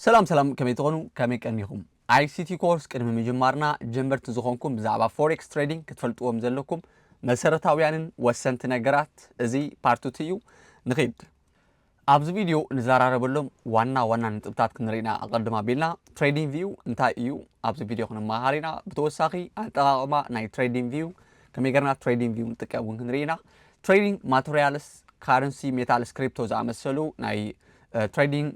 ሰላም ሰላም ከመይ ትኾኑ ከመይ ቀኒኹም ኣይሲቲ ኮርስ ቅድሚ ምጅማርና ጀመርቲ ዝኾንኩም ብዛዕባ ፎሬክስ ትሬዲንግ ክትፈልጥዎም ዘለኩም መሰረታውያንን ወሰንቲ ነገራት እዚ ፓርትቲ እዩ ንኺድ ኣብዚ ቪድዮ ንዘራረበሎም ዋና ዋና ነጥብታት ክንርኢ ኢና፣ ኣቐድም ኣቢልና ትሬዲንግ ቪው እንታይ እዩ ኣብዚ ቪድዮ ክንመሃር ኢና፣ ብተወሳኺ ኣጠቓቕማ ናይ ትሬዲንግ ቪው ከመይ ገርና ትሬዲንግ ቪው ንጥቀም እውን ክንርኢ ኢና፣ ትሬዲንግ ማተርያልስ ካረንሲ ሜታልስ ክሪፕቶ ዝኣመሰሉ ናይ ትሬዲንግ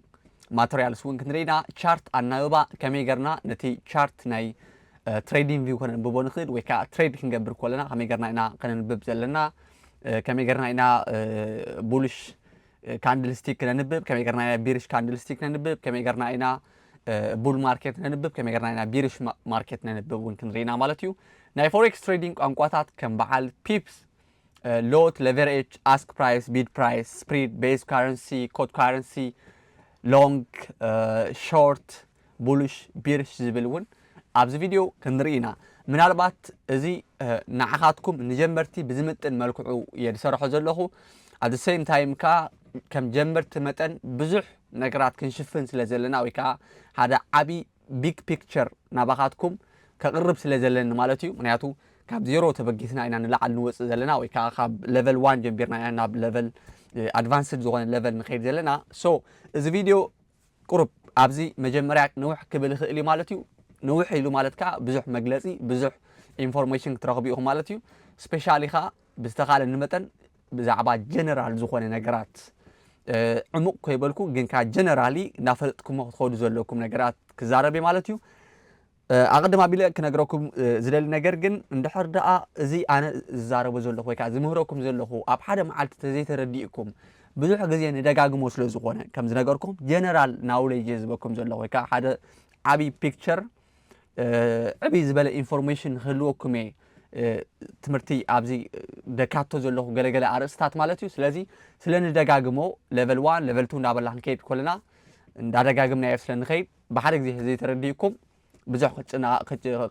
ማተርያልስ እውን ክንርኢ ኢና፣ ቻርት ኣናብባ ከመይ ገርና ነቲ ቻርት ናይ ትሬዲንግ ቪው ከነንብቦ ንኽእል ወይ ከዓ ትሬድ ክንገብር ከለና ከመይ ገርና ኢና ከነንብብ ዘለና ከመይ ጌርና ኢና ቡልሽ ካንድል ስቲክ ነንብብ ከመይ ጌርና ኢና ቢርሽ ካንድል ስቲክ ነንብብ ከመይ ጌርና ኢና ቡል ማርኬት ነንብብ ከመይ ጌርና ኢና ቢርሽ ማርኬት ነንብብ እውን ክንርኢና ማለት እዩ ናይ ፎሬክስ ትሬዲንግ ቋንቋታት ከም በዓል ፒፕስ ሎት ሌቨሬጅ ኣስክ ፕራይስ ቢድ ፕራይስ ስፕሪድ ቤዝ ካረንሲ ኮድ ካረንሲ ሎንግ ሾርት ቡልሽ፣ ቢርሽ ዝብል እውን ኣብዚ ቪድዮ ክንርኢ ኢና። ምናልባት እዚ ንዓኻትኩም ንጀመርቲ ብዝምጥን መልክዑ እየ ዝሰርሖ ዘለኹ። at the same time ከዓ ከም ጀመርቲ መጠን ብዙሕ ነገራት ክንሽፍን ስለ ዘለና ወይ ከዓ ሓደ ዓብዪ ቢግ ፒክቸር ናባኻትኩም ከቕርብ ስለ ዘለኒ ማለት እዩ። ምክንያቱ ካብ ዜሮ ተበጊስና ኢና ንላዕሊ ንወፅእ ዘለና ወይ ከዓ ካብ ሌቨል ዋን ጀምቢርና ኢና ናብ ሌቨል ኣድቫንስድ ዝኾነ ሌቨል ንኸይድ ዘለና። ሶ እዚ ቪድዮ ቁሩብ ኣብዚ መጀመርያ ንውሕ ክብል ይኽእል እዩ ማለት እዩ። ንውሕ ኢሉ ማለት ከኣ ብዙሕ መግለጺ ብዙሕ ኢንፎርሜሽን ክትረኽቡ ኢኹም ማለት እዩ። ስፔሻሊ ከኣ ብዝተኻለኒ መጠን ብዛዕባ ጀነራል ዝኾነ ነገራት ዕሙቕ ከይበልኩ ግን ከኣ ጀነራሊ እናፈለጥኩሞ ክትኸዱ ዘለኩም ነገራት ክዛረብ እየ ማለት እዩ። ኣቐድም ኣቢለ ክነግረኩም ዝደሊ ነገር ግን እንድሕር ደኣ እዚ ኣነ ዝዛረቦ ዘለኹ ወይ ከኣ ዝምህረኩም ዘለኹ ኣብ ሓደ መዓልቲ ተዘይተረዲእኩም ብዙሕ ግዜ ንደጋግሞ ስለ ዝኾነ ከም ዝነገርኩም ጀነራል ናውሌጅ እየ ዝበኩም ዘለኹ ወይ ከኣ ሓደ ዓብዪ ፒክቸር ዕብይ ዝበለ ኢንፎርሜሽን ንክህልወኩም እየ ትምህርቲ ኣብዚ ደካቶ ዘለኹ ገለገለ ኣርእስታት ማለት እዩ ስለዚ ስለ ንደጋግሞ ለቨል ዋን ለቨል ቱ እንዳበልና ክንከይድ ኮለና እንዳደጋግምናዮ ስለ ንኸይድ ብሓደ ግዜ ህዝቢ ተረዲኡኩም ብዙሕ ክትጭነቕ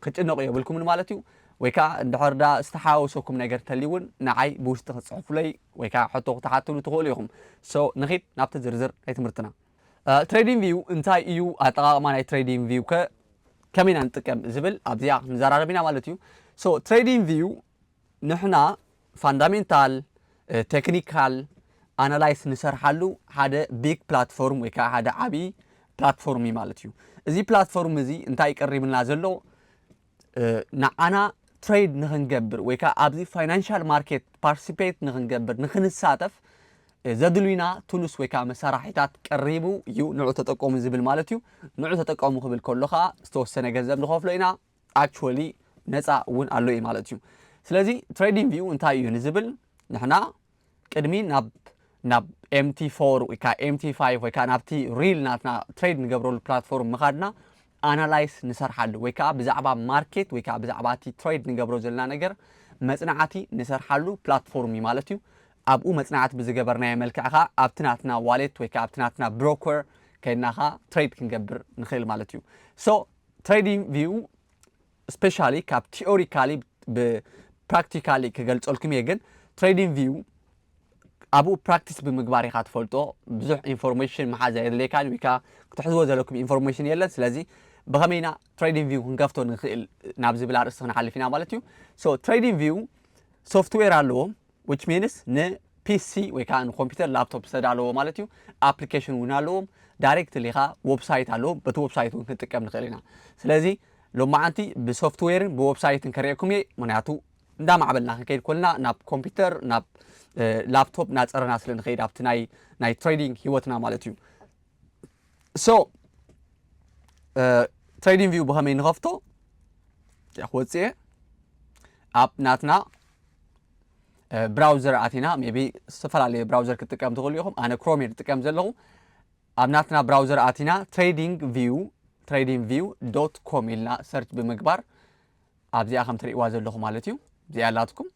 ክጭነቑ የብልኩምን ማለት እዩ። ወይ ከኣ እንድሕር ደኣ ዝተሓዋወሰኩም ነገር ተልዩ እውን ንዓይ ብውሽጢ ክትጽሕፉለይ ወይ ከኣ ሕቶ ክትሓቱኒ ትኽእሉ ኢኹም። So ንኺድ ናብቲ ዝርዝር ናይ ትምህርትና። ትሬዲንግ ቪው እንታይ እዩ ኣጠቓቕማ ናይ ትሬዲንግ ቪው ከ ከመይ ኢና ንጥቀም ዝብል ኣብዚኣ ክንዘራረብ ኢና ማለት እዩ። So ትሬዲንግ ቪው ንሕና ፋንዳሜንታል ቴክኒካል ኣናላይስ ንሰርሓሉ ሓደ ቢግ ፕላትፎርም ወይ ከዓ ሓደ ዓብዪ ፕላትፎርም እዩ ማለት እዩ። እዚ ፕላትፎርም እዚ እንታይ እዩ ቀሪብልና ዘሎ? ንዓና ትሬድ ንክንገብር ወይ ከዓ ኣብዚ ፋይናንሻል ማርኬት ፓርቲሲፔት ንክንገብር ንክንሳተፍ ዘድልዩና ቱሉስ ወይ ከዓ መሳርሒታት ቀሪቡ እዩ ንዑ ተጠቀሙ ዝብል ማለት እዩ። ንዑ ተጠቀሙ ክብል ከሎ ከዓ ዝተወሰነ ገንዘብ ንኸፍሎ ኢና። ኣክቹዋሊ ነፃ እውን ኣሎ እዩ ማለት እዩ። ስለዚ ትሬዲንግ ቪው እንታይ እዩ ንዝብል ንሕና ቅድሚ ናብ ናብ ኤምቲ ፎር ወይ ከዓ ኤምቲ ፋይቭ ወይ ከዓ ናብቲ ሪል ናትና ትሬድ ንገብረሉ ፕላትፎርም ምኻድና ኣናላይስ ንሰርሓሉ ወይ ከዓ ብዛዕባ ማርኬት ወይ ከዓ ብዛዕባ እቲ ትሬድ ንገብሮ ዘለና ነገር መፅናዕቲ ንሰርሓሉ ፕላትፎርም እዩ ማለት እዩ። ኣብኡ መፅናዕቲ ብዝገበርናዮ መልክዕ ከዓ ኣብቲ ናትና ዋሌት ወይ ከዓ ኣብቲ ናትና ብሮከር ከይድና ከዓ ትሬድ ክንገብር ንኽእል ማለት እዩ። ሶ ትሬዲንግ ቪው ስፔሻሊ ካብ ቲኦሪካሊ ብፕራክቲካሊ ክገልፀልኩም እየ ግን ትሬዲንግ ቪው ኣብኡ ፕራክቲስ ብምግባር ኢኻ ትፈልጦ ብዙሕ ኢንፎርሜሽን መሓዝ የድልየካን ወይ ከዓ ክትሕዝዎ ዘለኩም ኢንፎርሜሽን የለን ስለዚ ብኸመይ ኢና ትሬዲንግ ቪው ክንከፍቶ ንኽእል ናብ ዝብል ኣርእስቲ ክንሓልፍ ኢና ማለት እዩ ሶ ትሬዲንግ ቪው ሶፍትዌር ኣለዎ which means ንፒሲ ወይ ከዓ ንኮምፒውተር ላፕቶፕ ዝተዳለዎ ማለት እዩ ኣፕሊኬሽን እውን ኣለዎም ዳይሬክትሊ ከዓ ወብሳይት ኣለዎም በቲ ወብሳይት እውን ክንጥቀም ንኽእል ኢና ስለዚ ሎማዓንቲ ብሶፍትዌርን ብወብሳይትን ከርእየኩም እየ ምክንያቱ እንዳማዕበልና ክንከይድ ኮልና ናብ ኮምፒውተር ናብ ላፕቶፕ እናፀረና ስለ ንኸይድ ኣብቲ ናይ ናይ ትሬዲንግ ሂወትና ማለት እዩ ሶ ትሬዲንግ ቪው ብኸመይ ንኸፍቶ ወፅኤ ኣብ ናትና ብራውዘር ኣቲና ቢ ዝተፈላለዩ ብራውዘር ክትጥቀም ትኽእሉ ኢኹም ኣነ ክሮም እየ ዝጥቀም ዘለኹ ኣብ ናትና ብራውዘር ኣቲና ትሬዲንግ ቪው ትሬዲንግ ቪው ዶት ኮም ኢልና ሰርች ብምግባር ኣብዚኣ ከም ትርእዋ ዘለኹ ማለት እዩ እዚኣ ኣላትኩም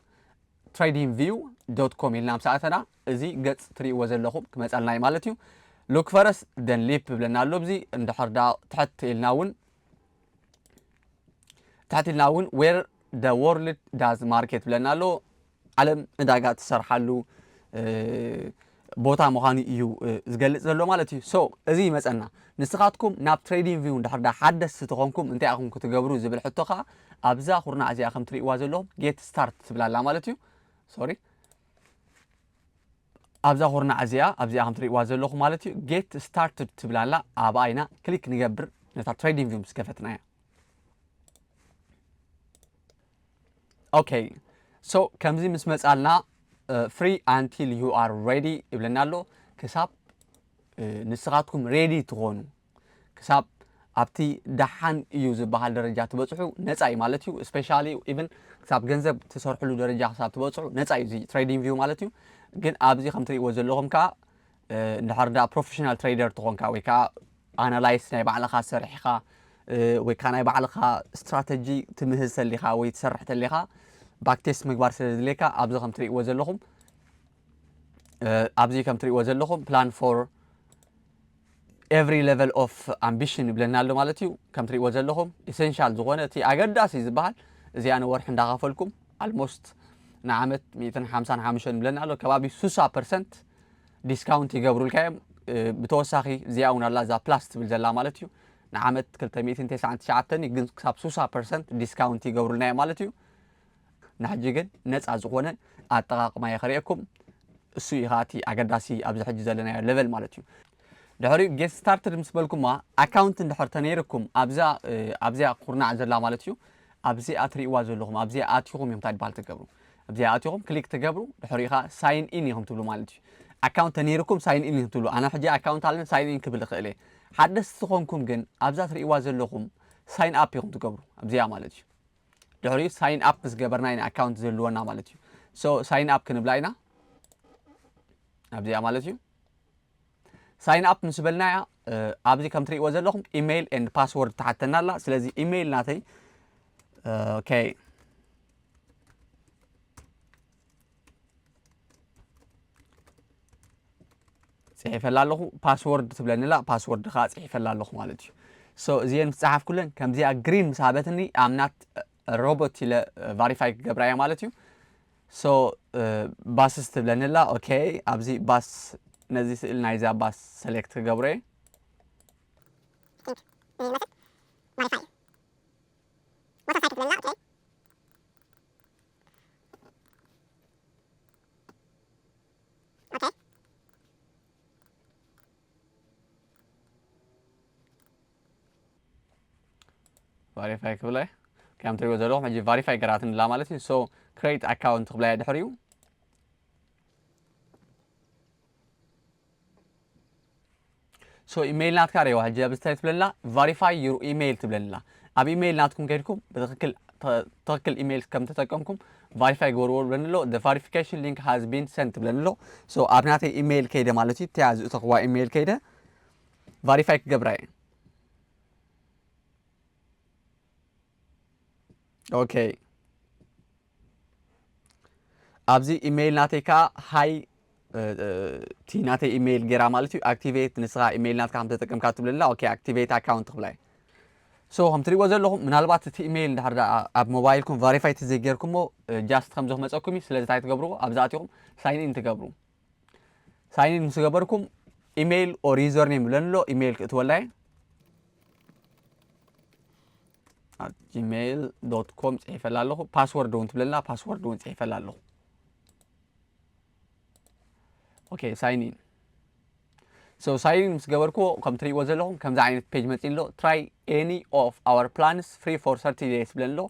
ትሬዲንግ ቪው ዶት ኮም ኢልና ምስ ኣተና እዚ ገጽ ትርእዎ ዘለኹም ክመጻልና እዩ ማለት እዩ ሉክ ፈረስ ደን ሊፕ ብለና ኣሎ እዚ እንድሕር ዳ ትሕት ኢልና እውን ትሕት ኢልና እውን ዌር ደ ወርልድ ዳዝ ማርኬት ብለና ኣሎ ዓለም ዕዳጋ ትሰርሓሉ ቦታ ምዃኑ እዩ ዝገልፅ ዘሎ ማለት እዩ ሶ እዚ ይመፀና ንስኻትኩም ናብ ትሬዲንግ ቪው እንድሕር ዳ ሓደስቲ ተኾንኩም እንታይ ኢኹም ክትገብሩ ዝብል ሕቶ ከዓ ኣብዛ ኩርናዕ እዚኣ ከም ትርእይዋ ዘለኹም ጌት ስታርት ትብላላ ማለት እዩ ሶሪ ኣብዛ ኩርናዕ እዚኣ ኣብዚኣ ከም ትርእይዋ ዘለኹ ማለት እዩ ጌት ስታርትድ ትብል ኣላ ኣብኣ ኢና ክሊክ ንገብር ነታ ትሬዲንግ ቪው ምስ ከፈትና እያ ኦኬ ሶ ከምዚ ምስ መጻልና ፍሪ ኣንቲል ዩ ኣር ሬዲ ይብለና ኣሎ ክሳብ ንስኻትኩም ሬዲ ትኾኑ ክሳብ ኣብቲ ደሓን እዩ ዝበሃል ደረጃ ትበጽሑ ነጻ እዩ ማለት እዩ። ስፔሻሊ ኢቭን ክሳብ ገንዘብ ትሰርሕሉ ደረጃ ክሳብ ትበጽሑ ነጻ እዩ እዚ ትሬዲንግ ቪው ማለት እዩ። ግን ኣብዚ ከም ትርእይዎ ዘለኹም ከኣ እንድሕር ደኣ ፕሮፌሽናል ትሬደር ትኾንካ ወይ ከኣ ኣናላይስ ናይ ባዕልኻ ሰሪሕኻ ወይ ከዓ ናይ ባዕልኻ ስትራተጂ ትምህዝ ተሊኻ ወይ ትሰርሕ ተሊኻ ባክቴስት ምግባር ስለ ዝድልየካ ኣብዚ ከም ትርእይዎ ዘለኹም ኣብዚ ከም ትርእይዎ ዘለኹም ፕላን ፎር ኤቭሪ ለቨል ኦፍ ኣምቢሽን ይብለና ኣሎ ማለት እዩ ከም ትሪእዎ ዘለኹም ኢሰንሻል ዝኾነ እቲ ኣገዳሲ ዝበሃል እዚኣ ንወርሒ እንዳኸፈልኩም ኣልሞስት ንዓመት ሚእትን ሓምሳን ሓሙሽተን ይብለና ኣሎ ከባቢ ሱሳ ፐርሰንት ዲስካውንት ይገብሩልካ እዮም ብተወሳኺ እዚኣ እውን ኣላ እዛ ፕላስ ትብል ዘላ ማለት እዩ ንዓመት ክልተ ሚእትን ተስዓን ትሽዓተን እዩ ግን ክሳብ ሱሳ ፐርሰንት ዲስካውንት ይገብሩልና እዮም ማለት እዩ ናሕጂ ግን ነጻ ዝኾነ ኣጠቓቕማ እየ ከርእየኩም። እሱ እዩ ከኣ እቲ ኣገዳሲ ኣብዚ ሕጂ ዘለናዮ ለቨል ማለት እዩ። ድሕሪኡ ጌት ስታርትድ ምስ በልኩማ ኣካውንት እንድሕር ተነይርኩም ኣብዛ ኣብዚኣ ኩርናዕ ዘላ ማለት እዩ ኣብዚኣ ትርእይዋ ዘለኹም ኣብዚኣ ኣትኹም እዮም እንታይ ትበሃል ትገብሩ ኣብዚኣ ኣትኹም ክሊክ ትገብሩ ድሕሪኡ ከዓ ሳይን ኢን ኢኹም ትብሉ ማለት እዩ ኣካውንት ተነይርኩም ሳይን ኢን ኢኹም ትብሉ ኣነ ሕጂ ኣካውንት ኣለኒ ሳይን ኢን ክብል ይኽእል እየ ሓደስቲ ዝኾንኩም ግን ኣብዛ ትርእይዋ ዘለኹም ሳይን ኣፕ ኢኹም ትገብሩ ኣብዚኣ ማለት እዩ ድሕሪኡ ሳይን ኣፕ ምስ ገበርና ኢና ኣካውንት ዝህልወና ማለት እዩ ሶ ሳይን ኣፕ ክንብላ ኢና ኣብዚኣ ማለት እዩ ሳይን ኣፕ ምስ በልና እያ ኣብዚ ከም ትሪእዎ ዘለኹም ኢሜይል ኤንድ ፓስወርድ ትሓተና ኣላ ስለዚ ኢሜይል ናተይ ኦኬ ፅሒፈላ ኣለኹ ፓስወርድ ትብለኒላ ፓስወርድ ከዓ ፅሒፈላ ኣለኹ ማለት እዩ ሶ እዚአን ምስ ፀሓፍኩለን ከምዚኣ ግሪን ምስ ሃበትኒ ኣምናት ሮቦት ኢለ ቫሪፋይ ክገብራ እየ ማለት እዩ ሶ ባስስ ትብለኒላ ኦኬ ኣብዚ ባስ ነዚ ስእሊ ናይዛ ባስ ሰሌክት ክገብሮ እየ ቫሪፋይ ክብላ እየ ከም ትሪእዎ ዘለኹም ሕጂ ቫሪፋይ ገራትኒ ላ ማለት እዩ ሶ ክሬት ኣካውንት ክብላ እየ ድሕሪኡ ሶ ኢመይል ናትካ ሪኤዋ ሕጂ ኣብዚ እንታይ ትብለላ ቫሪፋይ ዩር ኢመይል ትብለላ ኣብ ኢመይል ናትኩም ከድኩም ብትክክል ትክክል ኢመይል ከም ተጠቀምኩም ቫሪፋይ ግበርዎ ብለኒ ኣሎ the verification link has been sent ብለኒ ኣሎ ሶ ኣብ ናተይ ኢመይል ከይደ ማለት እዩ እቲኣ ዝእተኽዋ ኢመይል ከይደ ቫሪፋይ ክገብራ እየ ኦኬ ኣብዚ ኢሜይል ናተይ ከዓ ሃይ እቲ ናተይ ኢሜይል ጌራ ማለት እዩ ኣክቲቬት ንስኻ ኢሜይል ናትካ ከም ተጠቀምካ ትብለላ ኦኬ ኣክቲቬት ኣካውንት ክብላ እዩ ሶ ከም ትሪእዎ ዘለኹም ምናልባት እቲ ኢሜይል እንድሕር ደኣ ኣብ ሞባይልኩም ቫሪፋይ ተዘይጌርኩሞ ጃስት ከምዚ ክመፀኩም እዩ ስለዚ እንታይ ትገብርዎ ኣብዚ ኣትኹም ሳይን ኢን ትገብሩ ሳይኒን ምስ ገበርኩም ኢሜይል ኦር ዩዘር ኔም ብለን ኣሎ ኢሜይል ክእትወላ እየ ኣብ ጂሜይል ዶት ኮም ፅሒፈላ ኣለኹ ፓስወርድ እውን ትብለላ ፓስወርድ እውን ፅሒፈላ ኣለኹ ኦኬ ሳይኒን ሶ ሳይኒን ምስ ገበርኩዎ ከም ትሪእዎ ዘለኹም ከምዚ ዓይነት ፔጅ መፂ ኣሎ ትራይ ኤኒ ኦፍ ኣወር ፕላንስ ፍሪ ፎር ሰርቲ ዴይስ ብለን ኣሎ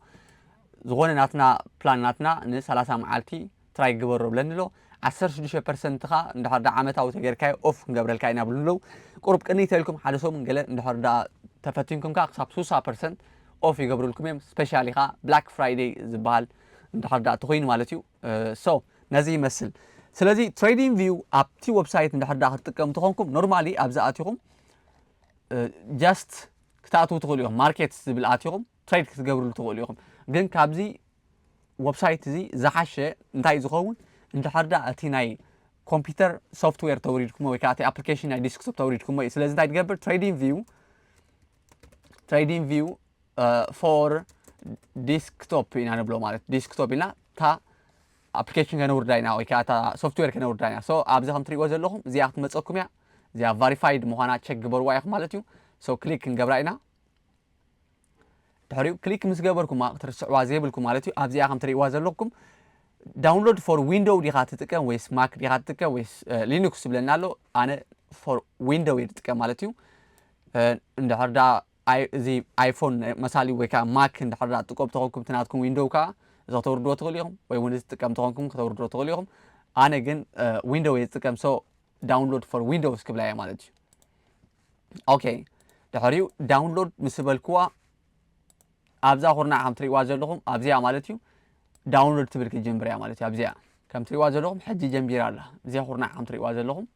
ዝኾነ ናትና ፕላን ናትና ን30 መዓልቲ ትራይ ግበሮ ብለኒ ኣሎ ዓሰርተ ሽዱሽተ ፐርሰንት ከኣ እንድሕር ደኣ ዓመታዊ ተገይርካዮ ኦፍ ክንገብረልካ ኢና ይብሉኒ ኣለዉ ቁሩብ ቅንይ ተልኩም ሓደ ሰሙን ገለ እንድሕር ደኣ ተፈቲንኩም ከኣ ክሳብ ስሳ ፐርሰንት ኦፍ ይገብሩልኩም እዮም ስፔሻሊ ከኣ ብላክ ፍራይደይ ዝበሃል እንድሕር ደኣ ተኮይኑ ማለት እዩ ሶ ነዚ ይመስል ስለዚ ትሬዲንግ ቪው ኣብቲ ወብሳይት እንድሕር ደኣ ክትጥቀሙ ተኾንኩም ኖርማሊ ኣብዚ ኣቲኹም ጀስት ክትኣትዉ ትኽእሉ እዮም ማርኬት ዝብል ኣቲኹም ትሬድ ክትገብርሉ ትኽእሉ ኢኹም ግን ካብዚ ወብሳይት እዚ ዝሓሸ እንታይ ዝኸውን እንድሕር ዳ እቲ ናይ ኮምፒውተር ሶፍትዌር ተውሪድኩሞ ወይ ከዓ እቲ ኣፕሊኬሽን ናይ ዲስክቶፕ ተውሪድኩሞ እዩ ስለዚ እንታይ ትገብር ትሬዲንግ ቪው ትሬዲንግ ቪው ፎር ዲስክቶፕ ኢና ንብሎ ማለት ዲስክቶፕ ኢልና እታ ኣፕሊኬሽን ከነውርዳ ኢና ወይ ከዓ እታ ሶፍትዌር ከነውርዳ ኢና ሶ ኣብዚ ከም ትሪእዎ ዘለኹም እዚኣ ክትመፀኩም እያ እዚኣ ቫሪፋይድ ምዃና ቸክ ግበርዋ ኢኹም ማለት እዩ ሶ ክሊክ ክንገብራ ኢና ድሕሪኡ ክሊክ ምስ ገበርኩማ ክትርስዕዋ ዘይብልኩም ማለት እዩ ኣብዚኣ ከም ትርእይዋ ዘለኹም ዳውንሎድ ፎር ዊንዶው ዲኻ ትጥቀም ወይስ ማክ ዲኻ ትጥቀም ወይስ ሊኑክስ ዝብለና ኣሎ ኣነ ፎር ዊንዶው እየ ዝጥቀም ማለት እዩ እንድሕር ዳ እዚ ኣይፎን መሳሊ ወይ ከዓ ማክ እንድሕር ዳ ትቆብ ተኾንኩም ትናትኩም ዊንዶው ከዓ እዚ ከተውርድዎ ትኽእሉ ኢኹም ወይ እውን ዝጥቀም ተኾንኩም ከተውርድዎ ትኽእሉ ኢኹም ኣነ ግን ዊንዶው እየ ዝጥቀም ሶ ዳውንሎድ ፎር ዊንዶውስ ክብላ እየ ማለት እዩ ኦኬ ድሕሪኡ ዳውንሎድ ምስ በልክዋ ኣብዛ ኩርናዕ ከም ትሪእዋ ዘለኹም ኣብዚኣ ማለት እዩ ዳውንሎድ ትብል ክትጀምር እያ ማለት እዩ ኣብዚኣ ከም ትሪእዋ ዘለኹም ሕጂ ጀንቢራ ኣላ እዚኣ ኩርናዕ ከም ትሪእዋ ዘለኹም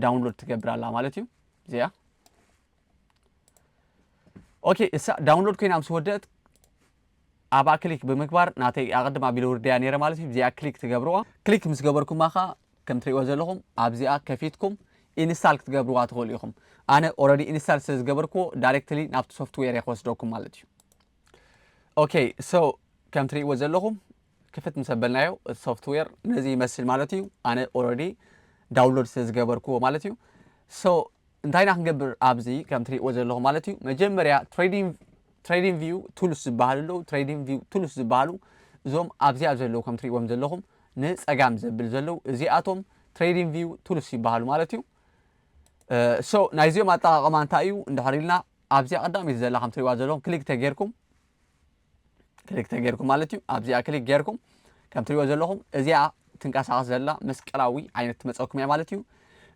ዳውንሎድ ትገብር ኣላ ማለት እዩ እዚኣ ኦኬ እሳ ዳውንሎድ ኮይና ምስ ወደእት ኣብኣ ክሊክ ብምግባር ናተይ ኣቐድም ኣቢለ ውርደያ ነይረ ማለት እዩ ብዚኣ ክሊክ ትገብርዋ ክሊክ ምስ ገበርኩማ ከኣ ከም ትርእይዎ ዘለኹም ኣብዚኣ ከፊትኩም ኢንስታል ክትገብርዋ ትኽእሉ ኢኹም ኣነ ኦረዲ ኢንስታል ስለ ዝገበርክዎ ዳይሬክትሊ ናብቲ ሶፍትዌር እየ ክወስደኩም ማለት እዩ ኦኬ ሶ ከም ትርእይዎ ዘለኹም ክፍት ምስ ኣበልናዮ እቲ ሶፍትዌር ነዚ ይመስል ማለት እዩ ኣነ ኦረዲ ዳውንሎድ ስለ ዝገበርክዎ ማለት እዩ ሶ እንታይ ኢና ክንገብር ኣብዚ ከም ትሪእዎ ዘለኹም ማለት እዩ መጀመርያ ትሬዲንግ ቪው ቱልስ ዝበሃሉ ኣለዉ ትሬዲንግ ቪው ቱልስ ዝበሃሉ እዞም ኣብዚኣ ዘለዉ ከም ትሪእዎም ዘለኹም ንፀጋም ዘብል ዘለዉ እዚኣቶም ትሬዲንግ ቪው ቱልስ ይበሃሉ ማለት እዩ ሶ ናይዚኦም ኣጠቃቅማ እንታይ እዩ እንድሕር ኢልና ኣብዚኣ ቀዳሚት ዘላ ከም ትሪእዋ ዘለኹም ክሊክ ተጌርኩም ክሊክ ተገይርኩም ማለት እዩ ኣብዚኣ ክሊክ ገይርኩም ከም ትሪእዎ ዘለኹም እዚኣ ትንቀሳቐስ ዘላ መስቀላዊ ዓይነት ትመፀኩም እያ ማለት እዩ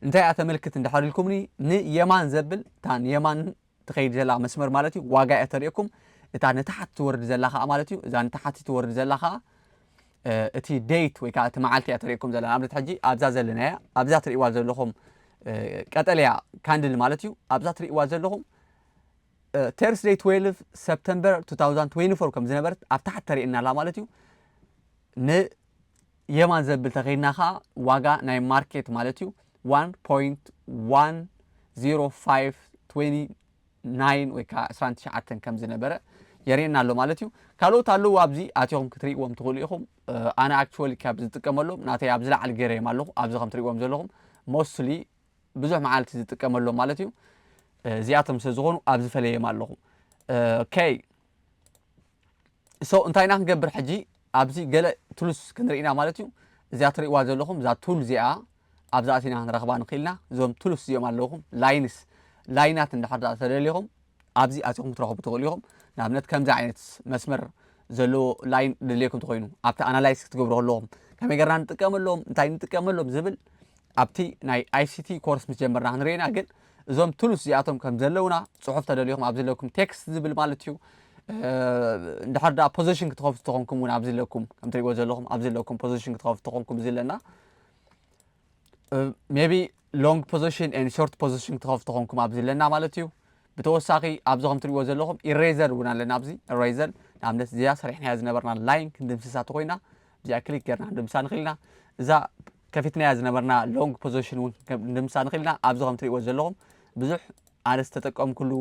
እንታይ እያ ተመልክት እንድሕር ኢልኩምኒ ንየማን ዘብል እታ ንየማን ትኸይድ ዘላ መስመር ማለት እዩ ዋጋ እያ ተርእየኩም እታ ንታሓት ትወርድ ዘላ ከዓ ማለት እዩ እዛ ንታሓት ትወርድ ዘላ ከዓ እቲ ደይት ወይ ከዓ እቲ መዓልቲ እያ ተርእየኩም ዘላ ንኣብነት ሕጂ ኣብዛ ዘለና እያ ኣብዛ ትርእዋ ዘለኹም ቀጠልያ ካንድል ማለት እዩ ኣብዛ ትርእዋ ዘለኹም Thursday twelve September two thousand twenty four ከም ዝነበረት ኣብ ታሕቲ ተርእየና ኣላ ማለት እዩ። ንየማን ዘብል ተኸይድና ከዓ ዋጋ ናይ ማርኬት ማለት እዩ ዋን ፖይንት ዋን ዜሮ ፋይቭ ትዌኒ ናይን ወይ ከዓ ዕስራን ትሽዓተን ከም ዝነበረ የርእየና ኣሎ ማለት እዩ። ካልኦት ኣለዉ ኣብዚ ኣትኹም ክትርእይዎም ትኽእሉ ኢኹም። እ፣ ኣነ ኣክቹዋሊ ካብ ዝጥቀመሎም ናተይ ኣብ ዝለዓል ገይረዮም ኣለኹ ኣብዚ ከም ትርእይዎም ዘለኹም ሞስትሊ ብዙሕ መዓልቲ ዝጥቀመሎም ማለት እዩ እዚኣቶም ስለ ዝኾኑ ኣብ ዝፈለየም ኣለኹ ከይ ሶ እንታይ ኢና ክንገብር ሕጂ ኣብዚ ገለ ቱልስ ክንርኢና ማለት እዩ እዚኣ ትርእዋ ዘለኹም እዛ ቱል እዚኣ ኣብዛ ኣቲና ክንረኽባ ንኽእልና እዞም ቱልስ እዚኦም ኣለኹም ላይንስ ላይናት እንድሕር ዳኣ ተደሊኹም ኣብዚ ኣቲኹም ክትረኽቡ ትኽእሉ ኢኹም። ንኣብነት ከምዚ ዓይነት መስመር ዘለዎ ላይን ድልየኩም ተኾይኑ ኣብቲ ኣናላይስ ክትገብሩ ከለኹም ከመይ ገርና ንጥቀመሎም እንታይ ንጥቀመሎም ዝብል ኣብቲ ናይ ኣይሲቲ ኮርስ ምስ ጀመርና ክንርኢና ግን እዞም ትሉስ እዚኣቶም ከም ዘለውና ጽሑፍ ተደልኹም ኣብዚ ዘለኩም ቴክስት ዝብል ማለት እዩ እንድሕር ዳ ፖዚሽን ክትኸፍቱ ተኾንኩም እውን ኣብዚ ኣለኩም ከምትሪእዎ ዘለኹም ኣብዚ ኣለኩም ፖዚሽን ክትኸፍቱ ተኾንኩም እዚ ኣለና ሜቢ ሎንግ ፖዚሽን ን ሾርት ፖዚሽን ክትኸፍቱ ኮንኩም ኣብዚ ኣለና ማለት እዩ ብተወሳኺ ኣብዚ ከም ትሪእዎ ዘለኹም ኢሬዘር እውን ኣለና ኣብዚ ኢሬዘር ንኣብነት እዚኣ ሰሪሕናያ ዝነበርና ላይን ክንድምስሳ ተኮይና እዚኣ ክሊክ ጌርና ክንድምሳ ንኽእል ኢና እዛ ከፊትናያ ዝነበርና ሎንግ ፖዚሽን እውን ክንድምሳ ንኽእል ኢና ኣብዚ ከም ትሪእዎ ዘለኹም ብዙሕ ኣነ ዝተጠቀምኩሉ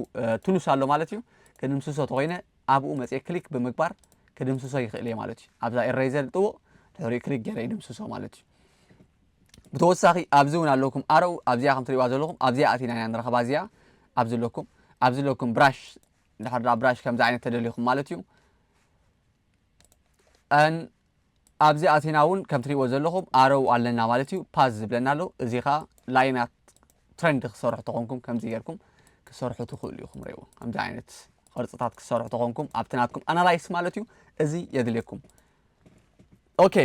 ቱሉስ ኣሎ ማለት እዩ ክንምስሶ ተኮይነ ኣብኡ መጽየ ክሊክ ብምግባር ክድምስሶ ይኽእል እየ ማለት እዩ ኣብዛ ኤረይዘር ዝጥውቕ ድሕሪኡ ክሊክ ገይረ ይድምስሶ ማለት እዩ ብተወሳኺ ኣብዚ እውን ኣለኩም ኣረኡ ኣብዚኣ ከም ትሪእዋ ዘለኹም ኣብዚኣ ኣቲና ኢና ንረኸባ እዚኣ ኣብዚ ኣለኩም ኣብዚ ኣለኩም ብራሽ ድሕርዳ ብራሽ ከምዚ ዓይነት ተደሊኹም ማለት እዩ ኣብዚ ኣቲና ውን ከም ትሪእዎ ዘለኹም ኣረው ኣለና ማለት እዩ ፓዝ ዝብለና ኣሎ እዚ ከኣ ላይናት ትረንድ ክሰርሑ ተኾንኩም ከምዚ ጌርኩም ክሰርሑ ትኽእሉ ኢኹም ሪእዎ ከምዚ ዓይነት ቅርጽታት ክሰርሑ ተኾንኩም ኣብቲ ናትኩም ኣናላይስ ማለት እዩ እዚ የድልየኩም ኦኬ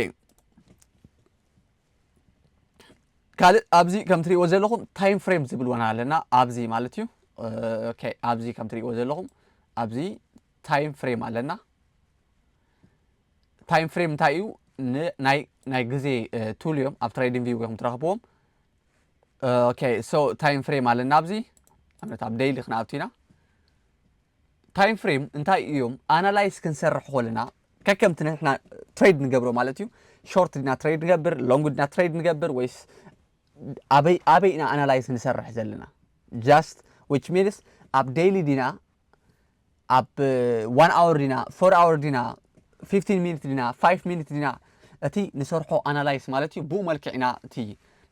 ካልእ ኣብዚ ከም ትሪእዎ ዘለኹም ታይም ፍሬም ዝብል ወና ኣለና ኣብዚ ማለት እዩ ኦኬ ኣብዚ ከም ትሪእዎ ዘለኹም ኣብዚ ታይም ፍሬም ኣለና ታይም ፍሬም እንታይ እዩ ናይ ናይ ግዜ ቱል እዮም ኣብ ትሬዲንግ ቪው ኢኹም ትረኽብዎም ኦኬ ሶ ታይም ፍሬም ኣለና ኣብዚ ኣብነት ኣብ ደይሊ ክንኣቱ ኢና ታይም ፍሬም እንታይ እዮም ኣናላይዝ ክንሰርሕ ኮለና ከከምቲ ንሕና ትሬድ ንገብሮ ማለት እዩ ሾርት ድና ትሬድ ንገብር ሎንግ ድና ትሬድ ንገብር ወይስ ኣበይ ኣበይ ኢና ኣናላይዝ ንሰርሕ ዘለና ጃስት ዊች ሚንስ ኣብ ደይሊ ዲና ኣብ ዋን ኣወር ዲና ፎር ኣወር ዲና ፊፍቲን ሚኒት ዲና ፋይቭ ሚኒት ዲና እቲ ንሰርሖ ኣናላይስ ማለት እዩ ብኡ መልክዕ ኢና እቲ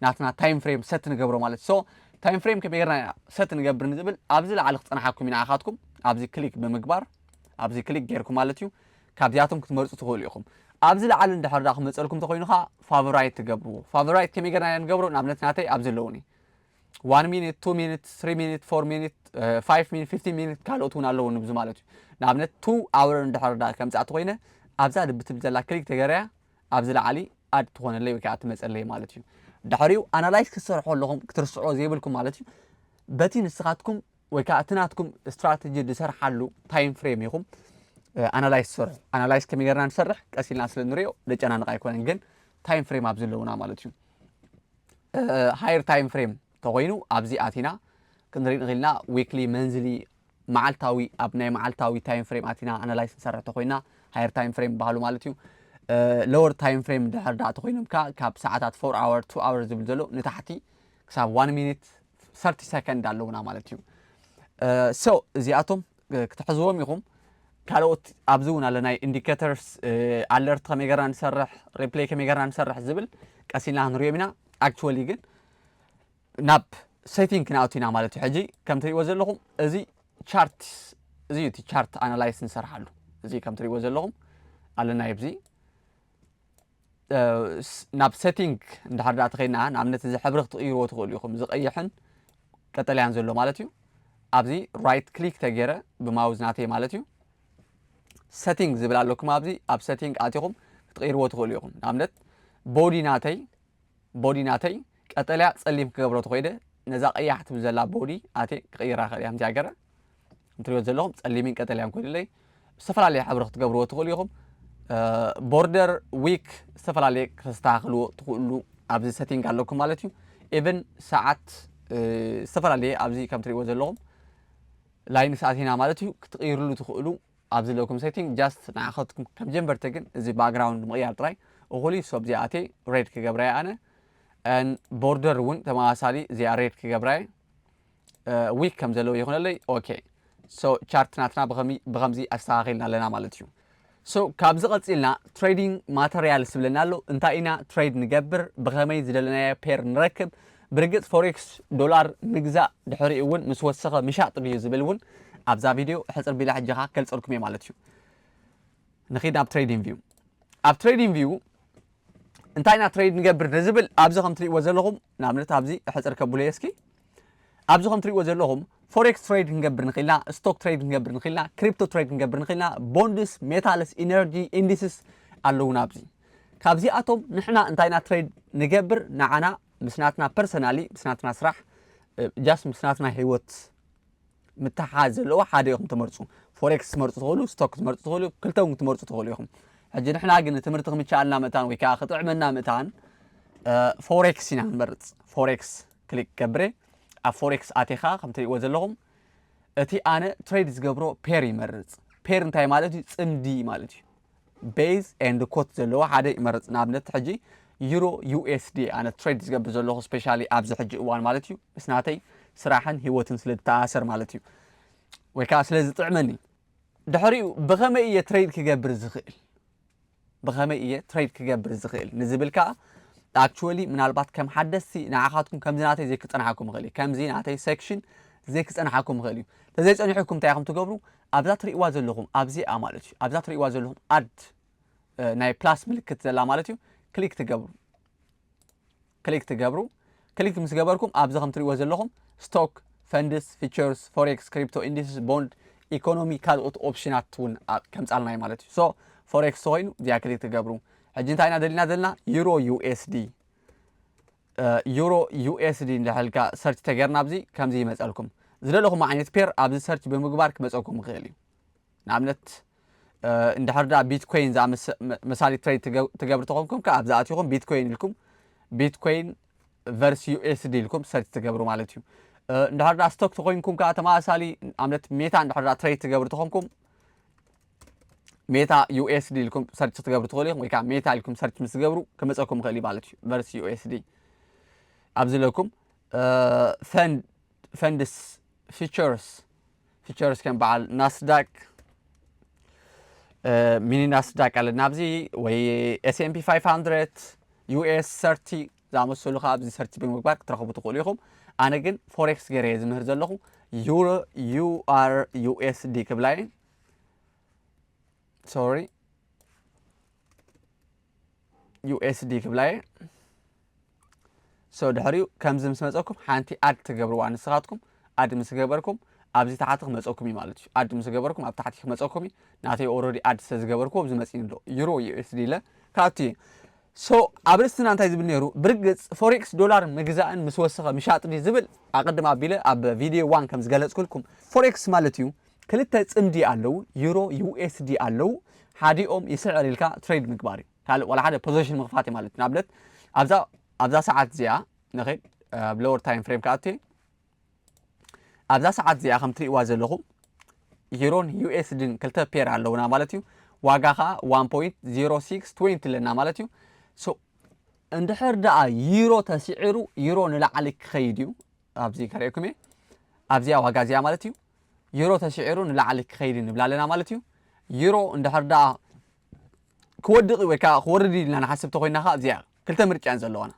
ናትና ታይም ፍሬም ሰት ንገብሮ ማለት ሶ ታይም ፍሬም ከመይ ጌርና ኢና ሰት ንገብር ንዝብል ኣብዚ ላዕሊ ክፀናሓኩም ኢና ኢኻትኩም ኣብዚ ክሊክ ብምግባር ኣብዚ ክሊክ ጌርኩም ማለት እዩ ካብዚኣቶም ክትመርፁ ትኽእሉ ኢኹም ኣብዚ ላዕሊ እንድሕር ዳ ክመፀልኩም ተኮይኑ ከዓ ፋቨራይት ትገብርዎ ፋቨራይት ከመይ ጌርና ኢና ንገብሮ ንኣብነት ናተይ ኣብዚ ኣለውኒ ዋን ሚኒት ቱ ሚኒት ስሪ ሚኒት ፎር ሚኒት ፋይቭ ሚኒት ፊፍቲን ሚኒት ካልኦት እውን ኣለዎ ንብዙ ማለት እዩ ንኣብነት ቱ ኣውር እንድሕር ዳ ከምፃእቲ ኮይነ ኣብዛ ልቢ ትብል ዘላ ክሊክ ተገረያ ኣብዚ ላዕሊ ኣድ ትኾነለይ ወይ ከዓ ትመፀለይ ማለት እዩ ድሕሪኡ ኣናላይዝ ክትሰርሖ ኣለኹም ክትርስዖ ዘይብልኩም ማለት እዩ በቲ ንስኻትኩም ወይ ከዓ እቲ ናትኩም ስትራቴጂ ዝሰርሓሉ ታይም ፍሬም ኢኹም ኣናላይዝ ትሰርሑ ኣናላይዝ ከመይ ጌርና ንሰርሕ ቀስ ኢልና ስለ ንሪኦ ደጨናንቕ ኣይኮነን ግን ታይም ፍሬም ኣብ ዘለውና ማለት እዩ ሃየር ታይም ፍሬም ተኾይኑ ኣብዚ ኣቲና ክንርኢ ንኽእል ኢና ዊክሊ መንዝሊ መዓልታዊ ኣብ ናይ መዓልታዊ ታይም ፍሬም ኣቲና ኣናላይስ ንሰርሕ ተኾይና ሃየር ታይም ፍሬም ይበሃሉ ማለት እዩ ሎወር ታይም ፍሬም ድሕር ዳኣ ተኾይኖም ከ ካብ ሰዓታት ፎር ኣወር ቱ ኣወር ዝብል ዘሎ ንታሕቲ ክሳብ ዋን ሚኒት ሰርቲ ሰከንድ ኣለውና ማለት እዩ ሶ እዚኣቶም ክትሕዝዎም ኢኹም ካልኦት ኣብዚ እውን ኣለ ናይ ኢንዲኬተርስ ኣለርት ከመይ ገርና ንሰርሕ ሪፕሌይ ከመይ ገርና ንሰርሕ ዝብል ቀስ ኢልና ክንሪኦም ኢና ኣክቹዋሊ ግን ናብ ሴቲንግ ክንኣቱ ኢና ማለት እዩ ሕጂ ከም ትሪእዎ ዘለኹም እዚ ቻርት እዚ እቲ ቻርት ኣናላይስ ንሰርሓሉ እዚ ከም ትሪእዎ ዘለኹም ኣለና ይብዚ ናብ ሴቲንግ እንድሕር ዳኣ ተኸድና ንኣብነት እዚ ሕብሪ ክትቕይርዎ ትኽእሉ ኢኹም እዚ ቀይሕን ቀጠልያን ዘሎ ማለት እዩ ኣብዚ ራይት ክሊክ ተገይረ ብማውዝ ናተይ ማለት እዩ ሴቲንግ ዝብል ኣለኩም ኣብዚ ኣብ ሴቲንግ ኣቲኹም ክትቕይርዎ ትኽእሉ ኢኹም ንኣብነት ቦዲ ናተይ ቦዲ ናተይ ቀጠልያ ጸሊም ክገብሮ ተኾይደ ነዛ ቀያሕ ትብል ዘላ ቦዲ ኣቴ ክቕይራ ክእል እያ ከምዚኣ ገረ ትሪእዎ ዘለኹም ጸሊምን ቀጠልያን ኮይኑለይ ዝተፈላለየ ሕብሪ ክትገብርዎ ትኽእሉ ኢኹም ቦርደር ዊክ ዝተፈላለየ ክተስተኻኽልዎ ትኽእሉ ኣብዚ ሰቲንግ ኣለኩም ማለት እዩ ኢቨን ሰዓት ዝተፈላለየ ኣብዚ ከም ትሪእዎ ዘለኹም ላይን ሰዓት ኢና ማለት እዩ ክትቕይርሉ ትኽእሉ ኣብዚ ዘለኩም ሴቲንግ ጃስት ንዓኸትኩም ከም ጀንበርቲ ግን እዚ ባክግራውንድ ምቕያር ጥራይ እኹል እዩ ሶብዚ ኣቴ ሬድ ክገብራየ ኣነ ቦርደር እውን ተመሳሳሊ እዚኣ ሬድ ክገብራየ ዊክ ከም ዘለዎ ይኹነለይ ኦኬ ሶ ቻርት ናትና ብኸምዚ ኣስተኻኺልና ኣለና ማለት እዩ ሶ ካብዚ ቀፂልና ትሬዲንግ ማተርያልስ ዝብለና ኣሎ እንታይ ኢና ትሬድ ንገብር ብኸመይ ዝደለናዮ ፔር ንረክብ ብርግፅ ፎሬክስ ዶላር ምግዛእ ድሕሪኡ እውን ምስ ወሰኸ ምሻጥ ድዩ ዝብል እውን ኣብዛ ቪድዮ ሕፅር ቢላ ሕጂ ኸዓ ከልፀልኩም እየ ማለት እዩ ንኺድ ናብ ትሬዲንግ ቪው ኣብ ትሬዲንግ ቪው እንታይ ኢና ትሬድ ንገብር ንዝብል ኣብዚ ከም ትሪእዎ ዘለኹም ንኣብነት ኣብዚ ሕፅር ከብሉ እየ እስኪ ኣብዚ ከም ትሪእዎ ዘለኹም ፎሬክስ ትሬድ ክንገብር ንኽእል ኢና፣ ስቶክ ትሬድ ክንገብር ንኽእል ኢና፣ ክሪፕቶ ትሬድ ክንገብር ንኽእል ኢና፣ ቦንድስ፣ ሜታልስ፣ ኢነርጂ፣ ኢንዲስስ ኣለዉና ኣብዚ። ካብዚኣቶም ንሕና እንታይ ኢና ትሬድ ንገብር ንዓና ምስ ናትና ፐርሰናሊ ምስ ናትና ስራሕ ጃስ ምስ ናትና ሂወት ምትሓሓዝ ዘለዎ ሓደ ኢኹም ትመርፁ ፎሬክስ ትመርፁ ትኽእሉ ስቶክ ትመርፁ ትኽእሉ ክልተ እውን ትመርፁ ትኽእሉ ኢኹም ሕጂ ንሕና ግን ትምህርቲ ክምቻኣልና ምእታን ወይ ከዓ ክጥዕመና ምእታን ፎሬክስ ኢና ንመርፅ ፎሬክስ ክሊክ ገብረ ኣብ ፎሬክስ ኣቴኻ ከም ትሪእዎ ዘለኹም እቲ ኣነ ትሬድ ዝገብሮ ፔር ይመርጽ ፔር እንታይ ማለት እዩ ጽምዲ ማለት እዩ ቤዝ ኤንድ ኮት ዘለዎ ሓደ ይመርጽ ንኣብነት ሕጂ ዩሮ ዩኤስዲ ኣነ ትሬድ ዝገብር ዘለኹ ስፔሻሊ ኣብዚ ሕጂ እዋን ማለት እዩ ምስ ናተይ ስራሕን ሂወትን ስለ ዝተኣሰር ማለት እዩ ወይ ከዓ ስለ ዝጥዕመኒ ድሕሪኡ ብኸመይ እየ ትሬድ ክገብር ዝኽእል ብኸመይ እየ ትሬድ ክገብር ዝኽእል ንዝብል ከኣ ኣክቹዋሊ ምናልባት ከም ሓደስቲ ንዓኻትኩም ከምዚ ናተይ ዘይክጸንሓኩም ይኽእል እዩ ከምዚ ናተይ ሴክሽን ዘይክጸንሓኩም ይኽእል እዩ ተዘይጸኒሑኩም እንታይ ኢኹም ትገብሩ ኣብዛ ትርእይዋ ዘለኹም ኣብዚኣ ማለት እዩ ኣብዛ ትርእይዋ ዘለኹም ኣድ ናይ ፕላስ ምልክት ዘላ ማለት እዩ ክሊክ ትገብሩ ክሊክ ትገብሩ። ክሊክ ምስ ገበርኩም ኣብዚ ከም ትሪእዎ ዘለኹም ስቶክ፣ ፈንድስ፣ ፊቸርስ፣ ፎሬክስ፣ ክሪፕቶ፣ ኢንዲስስ፣ ቦንድ፣ ኢኮኖሚ ካልኦት ኦፕሽናት እውን ከምፃልና እዩ ማለት እዩ። ሶ ፎሬክስ ተኮይኑ እዚኣ ክሊክ ትገብሩ። ሕጂ እንታይ ኢና ደሊና ዘለና ዩሮ ዩኤስዲ ዩሮ ዩኤስዲ እንዳሕልካ ሰርች ተገርና ኣብዚ ከምዚ ይመፀልኩም ዝደለኹም ዓይነት ፔር ኣብዚ ሰርች ብምግባር ክመፀኩም ይኽእል እዩ ንኣብነት እንድሕር ድኣ ቢትኮይን መሳሊ ትሬድ ትገብር ተኾንኩም ከዓ ኣብዛ ኣትኹም ቢትኮይን ኢልኩም ቢትኮይን ቨርስ ዩኤስዲ ኢልኩም ሰርች ትገብሩ ማለት እዩ እንድሕር ድኣ ስቶክ ተኾይንኩም ከዓ ተመሳሳሊ ኣብነት ሜታ እንድሕር ድኣ ትሬድ ትገብር ተኾንኩም ሜታ ዩኤስዲ ኢልኩም ሰርች ክትገብሩ ትኽእሉ ኢኹም ወይ ከዓ ሜታ ኢልኩም ሰርች ምስ ትገብሩ ክመፀኩም ይኽእል እዩ ማለት እዩ ቨርስ ዩኤስዲ ኣብዚ ለኩም ፈንድስ ፊቸርስ ፊቸርስ ከም በዓል ናስዳቅ ሚኒ ናስዳቅ ኣለ ናብዚ ወይ ኤስኤምፒ 500 ዩኤስ ሰርቲ ዝኣመሰሉ ከዓ ኣብዚ ሰርቲ ብምግባር ክትረኽቡ ትኽእሉ ኢኹም ኣነ ግን ፎሬክስ ገይረ እየ ዝምህር ዘለኹ ዩሮ ዩኣር ዩኤስዲ ክብላ እየ ሶሪ ዩኤስዲ ክብላ እየ so ድሕሪኡ ከምዚ ምስ መጸኩም ሓንቲ ኣድ ትገብርዋ ንስኻትኩም ኣድ ምስ ገበርኩም ኣብዚ ታሕቲ ክመጸኩም እዩ ማለት እዩ ኣድ ምስ ገበርኩም ኣብ ታሕቲ ክመጸኩም እዩ ናተይ ኦሮዲ ኣድ ስለ ዝገበርኩዎ ኣብዚ መጺኒ ኣሎ ዩሮ ዩኤስዲ ኢለ ክኣቱ እዩ ሶ ኣብ ርእስትና እንታይ ዝብል ነይሩ ብርግጽ ፎሬክስ ዶላር ምግዛእን ምስ ወሰኸ ምሻጥ ድዩ ዝብል ኣቐድም ኣቢለ ኣብ ቪድዮ ዋን ከም ዝገለጽኩልኩም ፎሬክስ ማለት እዩ ክልተ ጽምዲ ኣለዉ ዩሮ ዩኤስዲ ኣለዉ ሓዲኦም ይስዕር ኢልካ ትሬድ ምግባር እዩ ካልእ ዋላ ሓደ ፖዘሽን ምኽፋት እየ ማለት እዩ ንኣብነት ኣብዛ ኣብዛ ሰዓት እዚኣ ንኸይድ ኣብ ሎወር ታይም ፍሬም ክኣቱ እየ ኣብዛ ሰዓት እዚኣ ከም ትርእይዋ ዘለኹም ዩሮን ዩኤስድን ክልተ ፔር ኣለውና ማለት እዩ ዋጋ ከዓ 1.0620 ኣለና ማለት እዩ እንድሕር ደኣ ዩሮ ተስዒሩ ዩሮ ንላዕሊ ክኸይድ እዩ ኣብዚ ከርእየኩም እየ ኣብዚኣ ዋጋ እዚኣ ማለት እዩ ዩሮ ተስዒሩ ንላዕሊ ክኸይድ ንብላ ኣለና ማለት እዩ ዩሮ እንድሕር ደኣ ክወድቕ እዩ ወይ ከኣ ክወርድ እዩ ኢልና ንሓስብ እንተኾይንና ከኣ እዚኣ እያ ክልተ ምርጫ እየን ዘለዋና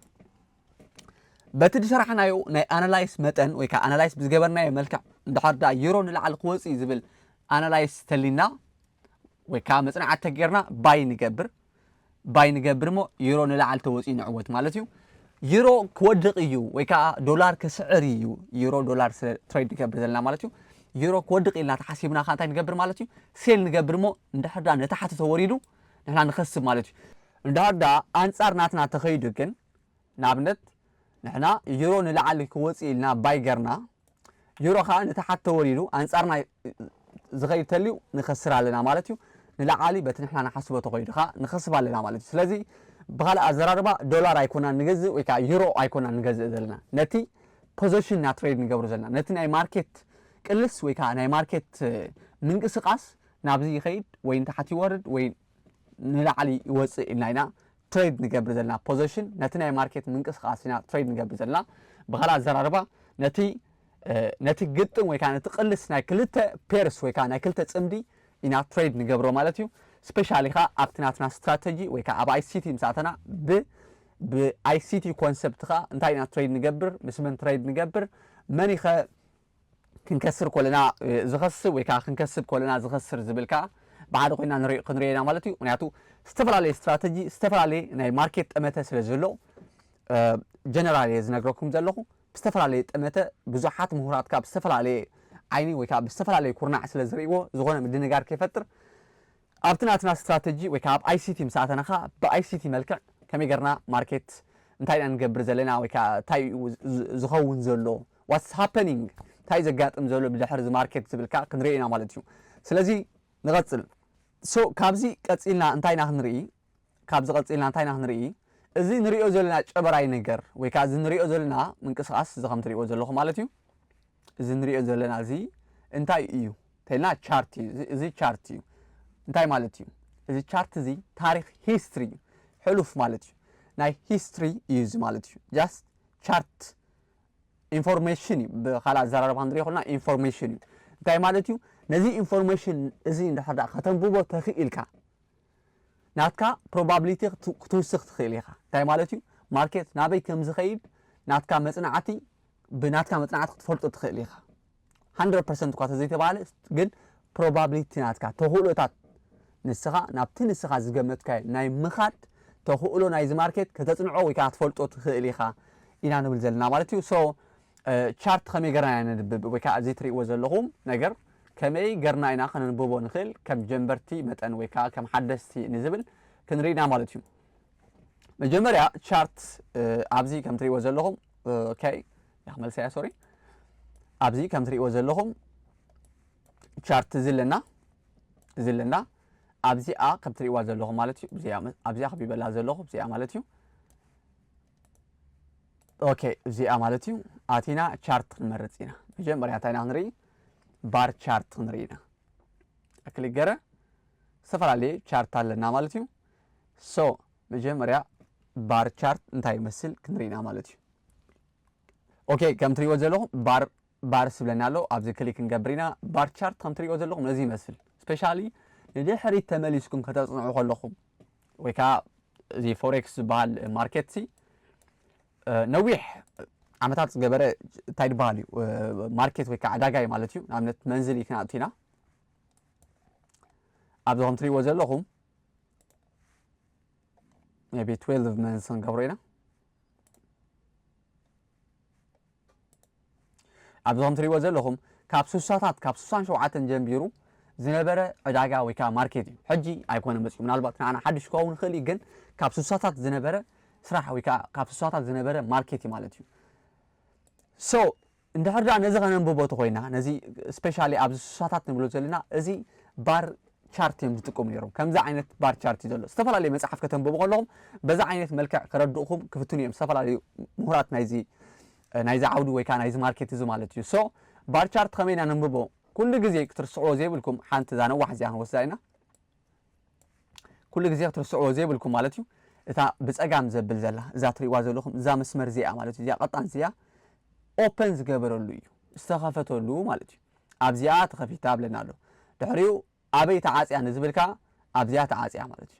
በቲ ዝሰራሕናዮ ናይ ኣናላይስ መጠን ወይ ከኣ ኣናላይስ ብዝገበርናዮ መልክዕ እንድሕር ደኣ ዩሮ ንላዕሊ ክወጽእ እዩ ዝብል ኣናላይስ ተሊና ወይ ከኣ መጽናዕቲ ተገይርና ባይ ንገብር ባይ ንገብር እሞ ዩሮ ንላዕሊ ተወጽኡ ንዕወት ማለት እዩ ዩሮ ክወድቕ እዩ ወይ ከዓ ዶላር ክስዕር እዩ ዩሮ ዶላር ትሬድ ንገብር ዘለና ማለት እዩ ዩሮ ክወድቕ ኢልና ተሓሲብና ከኣ እንታይ ንገብር ማለት እዩ ሴል ንገብር እሞ እንድሕር ድኣ ንታሕቲ ተወሪዱ ንሕና ንኸስብ ማለት እዩ። እንድሕር ድኣ ኣንጻር ናትና ተኸይዱ ግን ንኣብነት ንሕና ዩሮ ንላዕሊ ክወጽእ ኢልና ባይ ገርና ዩሮ ከኣ ንታሓት ተወሪዱ ኣንጻርና ዝኸይድ ተልዩ ንኸስር ኣለና ማለት እዩ። ንላዓሊ በቲ ንሕና ንሓስቦ ተኸይዱ ከኣ ንኸስብ ኣለና ማለት እዩ። ስለዚ ብኻልእ ኣዘራርባ ዶላር ኣይኮናን ንገዝእ ወይ ከኣ ዩሮ ኣይኮናን ንገዝእ ዘለና ነቲ ፖዘሽን ኢና ትሬድ ንገብር ዘለና ነቲ ናይ ማርኬት ቅልስ ወይ ካዓ ናይ ማርኬት ምንቅስቃስ ናብዚ ይኸይድ ወይ ንታሕቲ ይወርድ ወይ ንላዕሊ ይወፅእ ኢልና ኢና ትሬድ ንገብር ዘለና ፖዘሽን ነቲ ናይ ማርኬት ምንቅስቃስ ኢና ትሬድ ንገብር ዘለና ብካልእ ኣዘራርባ ነቲ ነቲ ግጥም ወይ ከዓ ነቲ ቅልስ ናይ ክልተ ፔርስ ወይ ከዓ ናይ ክልተ ፅምዲ ኢና ትሬድ ንገብሮ ማለት እዩ ስፔሻሊ ከዓ ኣብቲ ናትና ስትራተጂ ወይ ከዓ ኣብ ኣይሲቲ ምስ ኣተና ብ ብ ICT ኮንሰፕት ከኣ እንታይ ኢና ትረይድ ንገብር ምስ መን ትረይድ ንገብር መን ኢኸ ክንከስር ኮለና ዝኸስብ ወይ ከኣ ክንከስብ ኮለና ዝኸስር ዝብል ከኣ ብሓደ ኮይና ንሪኦ ክንሪኦ ኢና ማለት እዩ ምክንያቱ ዝተፈላለየ ስትራተጂ ዝተፈላለየ ናይ ማርኬት ጠመተ ስለ ዘሎ ጀነራል እየ ዝነግረኩም ዘለኹ ብዝተፈላለየ ጠመተ ብዙሓት ምሁራት ካብ ዝተፈላለየ ዓይኒ ወይ ከዓ ብዝተፈላለየ ኩርናዕ ስለ ዝርእይዎ ዝኾነ ምድንጋር ከይፈጥር ኣብቲ ናትና ስትራተጂ ወይ ከኣ ኣብ ICT ምስ ኣተና ከኣ ብ ICT መልክዕ ከመይ ጌርና market እንታይ ኢና ንገብር ዘለና ወይ ከኣ እንታይ እዩ ዝኸውን ዘሎ what's happening እንታይ እዩ ዘጋጥም ዘሎ ብድሕሪ እዚ market ዝብል ከኣ ክንሪኦ ኢና ማለት እዩ ስለዚ ንቐጽል so ካብዚ ቀጺልና እንታይ ኢና ክንሪኢ ካብዚ ቀጺልና እንታይ ኢና ክንርኢ እዚ ንርእዮ ዘለና ጨበራይ ነገር ወይ ከኣ እዚ ንርእዮ ዘለና ምንቅስቃስ እዚ ከም ትርእይዎ ዘለኹም ማለት እዩ እዚ ንርእዮ ዘለና እዚ እንታይ እዩ ተልና ቻርት እዩ እዚ- እዚ ቻርት እዩ እንታይ ማለት እዩ እዚ ቻርት እዚ ታሪኽ ሂስትሪ እዩ ሕሉፍ ማለት እዩ ናይ ሂስትሪ እዩ እዚ ማለት እዩ ጃስት ቻርት ኢንፎርሜሽን እዩ ብካልእ ኣዘራርባ ክንሪኦ ከለና ኢንፎርሜሽን እዩ እንታይ ማለት እዩ ነዚ ኢንፎርሜሽን እዚ እንድሕር ደኣ ከተንብቦ ተኽኢልካ ናትካ ፕሮባብሊቲ ክትውስኽ ትኽእል ኢኻ። እንታይ ማለት እዩ? ማርኬት ናበይ ከም ዝኸይድ ናትካ መጽናዕቲ ብናትካ መጽናዕቲ ክትፈልጦ ትኽእል ኢኻ። 100% እኳ ተዘይተባህለ ግን ፕሮባብሊቲ ናትካ ተኽእሎታት ንስኻ ናብቲ ንስኻ ዝገመትካዮ ናይ ምኻድ ተኽእሎ ናይዚ ማርኬት ከተጽንዖ ወይ ከዓ ክትፈልጦ ትኽእል ኢኻ ኢና ንብል ዘለና ማለት እዩ። ሶ ቻርት ከመይ ገርና ኢና ነንብብ ወይ ከኣ እዚ ትርእይዎ ዘለኹም ነገር ከመይ ገርና ኢና ከነንብቦ ንኽእል ከም ጀንበርቲ መጠን ወይ ከኣ ከም ሓደስቲ ንዝብል ክንርኢ ኢና ማለት እዩ። መጀመርያ ቻርት ኣብዚ ከም ትርእይዎ ዘለኹም ኦኬ መልሰ እያ ሶሪ ኣብዚ ከም ትርእይዎ ዘለኹም ቻርት እዚ ኣለና እዚ ኣለና ኣብዚኣ ከም ትርእይዋ ዘለኹም ማለት እዩ ኣብዚኣ ከቢበላ ዘለኹ እዚኣ ማለት እዩ ኦኬ እዚኣ ማለት እዩ ኣቲና ቻርት ክንመርፅ ኢና መጀመርያ እንታይ ኢና ክንርኢ ባር ቻርት ክንርኢ ኢና ክሊክ ገረ ዝተፈላለየ ቻርት ኣለና ማለት እዩ ሶ መጀመርያ ባር ቻርት እንታይ ይመስል ክንርኢ ኢና ማለት እዩ ኦኬ ከም ትሪእዎ ዘለኹም ባር ባርስ ዝብለና ኣሎ ኣብዚ ክሊክ ክንገብር ኢና ባር ቻርት ከም ትሪእዎ ዘለኹም እዚ ይመስል ስፔሻሊ ንድሕሪት ተመሊስኩም ከተጽንዑ ከለኹም ወይ ከኣ እዚ ፎሬክስ ዝበሃል ማርኬት ሲ ነዊሕ ዓመታት ዝገበረ እንታይ ድበሃል እዩ ማርኬት ወይ ከዓ ዕዳጋ እዩ ማለት እዩ ንኣብነት መንዝሊ ክንኣቱ ኢና ኣብዚ ከም ትሪእዎ ዘለኹም ቢ 12 መንዝ ክንገብሮ ኢና ኣብዚ ከም ትሪእዎ ዘለኹም ካብ ስሳታት ካብ ስሳን ሸውዓተን ጀምቢሩ ዝነበረ ዕዳጋ ወይ ከዓ ማርኬት እዩ። ሕጂ ኣይኮነ መፅኡ ምናልባት ንዓና ሓድሽ ክኸውን ይኽእል እዩ፣ ግን ካብ ስሳታት ዝነበረ ስራሕ ወይ ከዓ ካብ ስሳታት ዝነበረ ማርኬት እዩ ማለት እዩ። ሶ እንድሕር ደኣ ነዚ ከነንብቦ ተኾይና ነዚ ስፔሻሊ ኣብዚ ስሳታት ንብሎ ዘለና እዚ ባር ቻርት እዮም ዝጥቀሙ ነይሮም። ከምዚ ዓይነት ባር ቻርት እዩ ዘሎ። ዝተፈላለየ መጽሓፍ ከተንብቡ ከለኹም በዚ ዓይነት መልክዕ ከረድኡኹም ክፍትኑ እዮም ዝተፈላለዩ ምሁራት ናይዚ ናይዚ ዓውዲ ወይ ከዓ ናይዚ ማርኬት እዚ ማለት እዩ። ሶ ባር ቻርት ከመይ ኢና ነንብቦ ኩሉ ግዜ ክትርስዕዎ ዘይብልኩም ሓንቲ እዛ ነዋሕ እዚኣ ክንወስዳ ኢና። ኩሉ ግዜ ክትርስዕዎ ዘይብልኩም ማለት እዩ እታ ብጸጋም ዘብል ዘላ እዛ ትርእይዋ ዘለኹም እዛ መስመር እዚኣ ማለት እዩ እዚኣ ቀጣን እዚኣ ኦፐን ዝገበረሉ እዩ ዝተኸፈተሉ ማለት እዩ። ኣብዚኣ ተኸፊታ እብለና ኣሎ ድሕሪኡ ኣበይ ተዓጽያ ንዝብል ከኣ ኣብዚኣ ተዓጽያ ማለት እዩ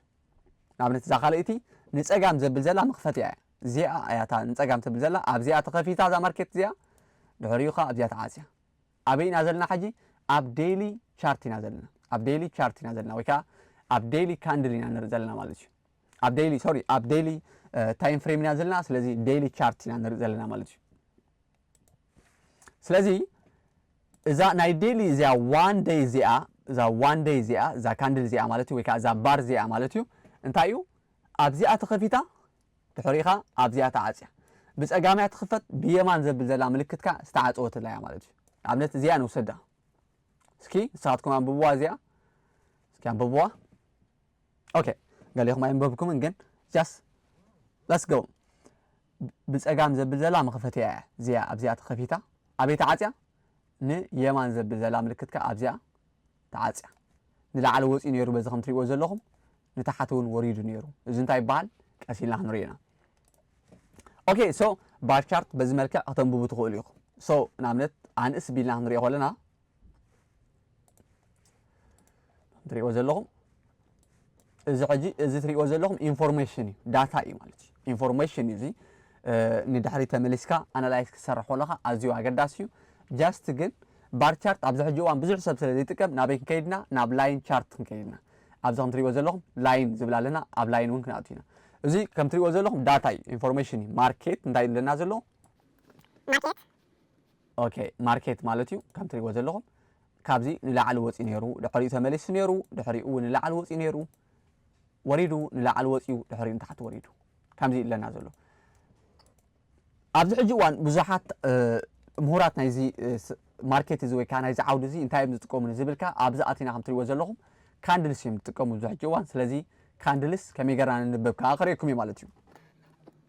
ንኣብነት እዛ ካልኣይቲ ንጸጋም ዘብል ዘላ መኽፈቲኣ እያ እዚኣ እያ እታ ንጸጋም ተብል ዘላ ኣብዚኣ ተኸፊታ እዛ ማርኬት እዚኣ ድሕሪኡ ከኣ ኣብዚኣ ተዓጽያ ኣበይ ኢና ዘለና ሕጂ ኣብ ዴይሊ ቻርት ኢና ዘለና ኣብ ዴይሊ ቻርት ኢና ዘለና ወይ ከኣ ኣብ ዴይሊ ካንድል ኢና ንርኢ ዘለና ማለት እዩ ኣብ ዴይሊ ሶሪ ኣብ ዴይሊ ታይም ፍሬም ኢና ዘለና ስለዚ ዴይሊ ቻርት ኢና ንርኢ ዘለና ማለት እዩ ስለዚ እዛ ናይ ዴሊ እዚኣ ዋን ደይ እዚኣ እዛ ዋን ደይ እዚኣ እዛ ካንድል እዚኣ ማለት እዩ ወይ ከዓ እዛ ባር እዚኣ ማለት እዩ እንታይ እዩ ኣብዚኣ ተኸፊታ ድሕሪኻ ኣብዚኣ ተዓፅያ ብፀጋምያ ትኽፈት ብየማን ዘብል ዘላ ምልክት ከዓ ዝተዓፀወትላ እያ ማለት እዩ ኣብነት እዚኣ ንውሰዳ እስኪ ንስኻትኩም ኣንብብዋ እዚኣ እስኪ ኣንብብዋ ኦኬ ገሌኹም ኣየንበብኩምን ግን ጃስ ለትስ ጎ ብጸጋም ዘብል ዘላ መኸፈቲያ እያ እዚኣ ኣብዚኣ ተኸፊታ ኣበይ ተዓጽያ ንየማን ዘብል ዘላ ምልክት ከኣ ኣብዚኣ ተዓጽያ ንላዕሊ ወጺኡ ነይሩ በዚ ከም ትሪእዎ ዘለኹም ንታሕቲ እውን ወሪዱ ነይሩ እዚ እንታይ ይበሃል ቀስ ኢልና ክንሪኦ ኢና ኦኬ ሶ ባር ቻርት በዚ መልክዕ ከተንብቡ ትኽእሉ ኢኹም ሶ ንኣብነት ኣንእስ ቢልና ክንሪኦ ከለና ትሪእዎ ዘለኹም እዚ ሕጂ እዚ ትሪእዎ ዘለኹም ኢንፎርሜሽን እዩ ዳታ እዩ ማለት እዩ ኢንፎርሜሽን እዚ ንድሕሪ ተመሊስካ ኣናላይዝ ክትሰርሕ ከለኻ ኣዝዩ ኣገዳሲ እዩ ጃስት ግን ባር ቻርት ኣብዚ ሕጂ እዋን ብዙሕ ሰብ ስለ ዘይጥቀም ናበይ ክንከይድና ናብ ላይን ቻርት ክንከይድና ኣብዚ ከም ትሪእዎ ዘለኹም ላይን ዝብል ኣለና ኣብ ላይን እውን ክንኣቱ ኢና እዚ ከም ትሪእዎ ዘለኹም ዳታ እዩ ኢንፎርሜሽን እዩ ማርኬት እንታይ ኣለና ዘሎ ማርኬት ኦኬ ማርኬት ማለት እዩ ከም ትሪእዎ ዘለኹም ካብዚ ንላዕሊ ወፂኡ ነይሩ ድሕሪኡ ተመሊሱ ነይሩ ድሕሪኡ ንላዕሊ ወፂኡ ነይሩ ወሪዱ ንላዕሊ ወፂኡ ድሕሪኡ ንታሕቲ ወሪዱ ከምዚ እዩ ኣለና ዘሎ ኣብዚ ሕጂ እዋን ብዙሓት ምሁራት ናይዚ ማርኬት እዚ ወይ ከዓ ናይዚ ዓውዲ እዚ እንታይ እዮም ዝጥቀሙ ንዝብል ከዓ ኣብዚ ኣቲና ከም ትሪእዎ ዘለኹም ካንድልስ እዮም ዝጥቀሙ ኣብዚ ሕጂ እዋን ስለዚ ካንድልስ ከመይ ገርና ንንበብ ከዓ ክርእየኩም እዩ ማለት እዩ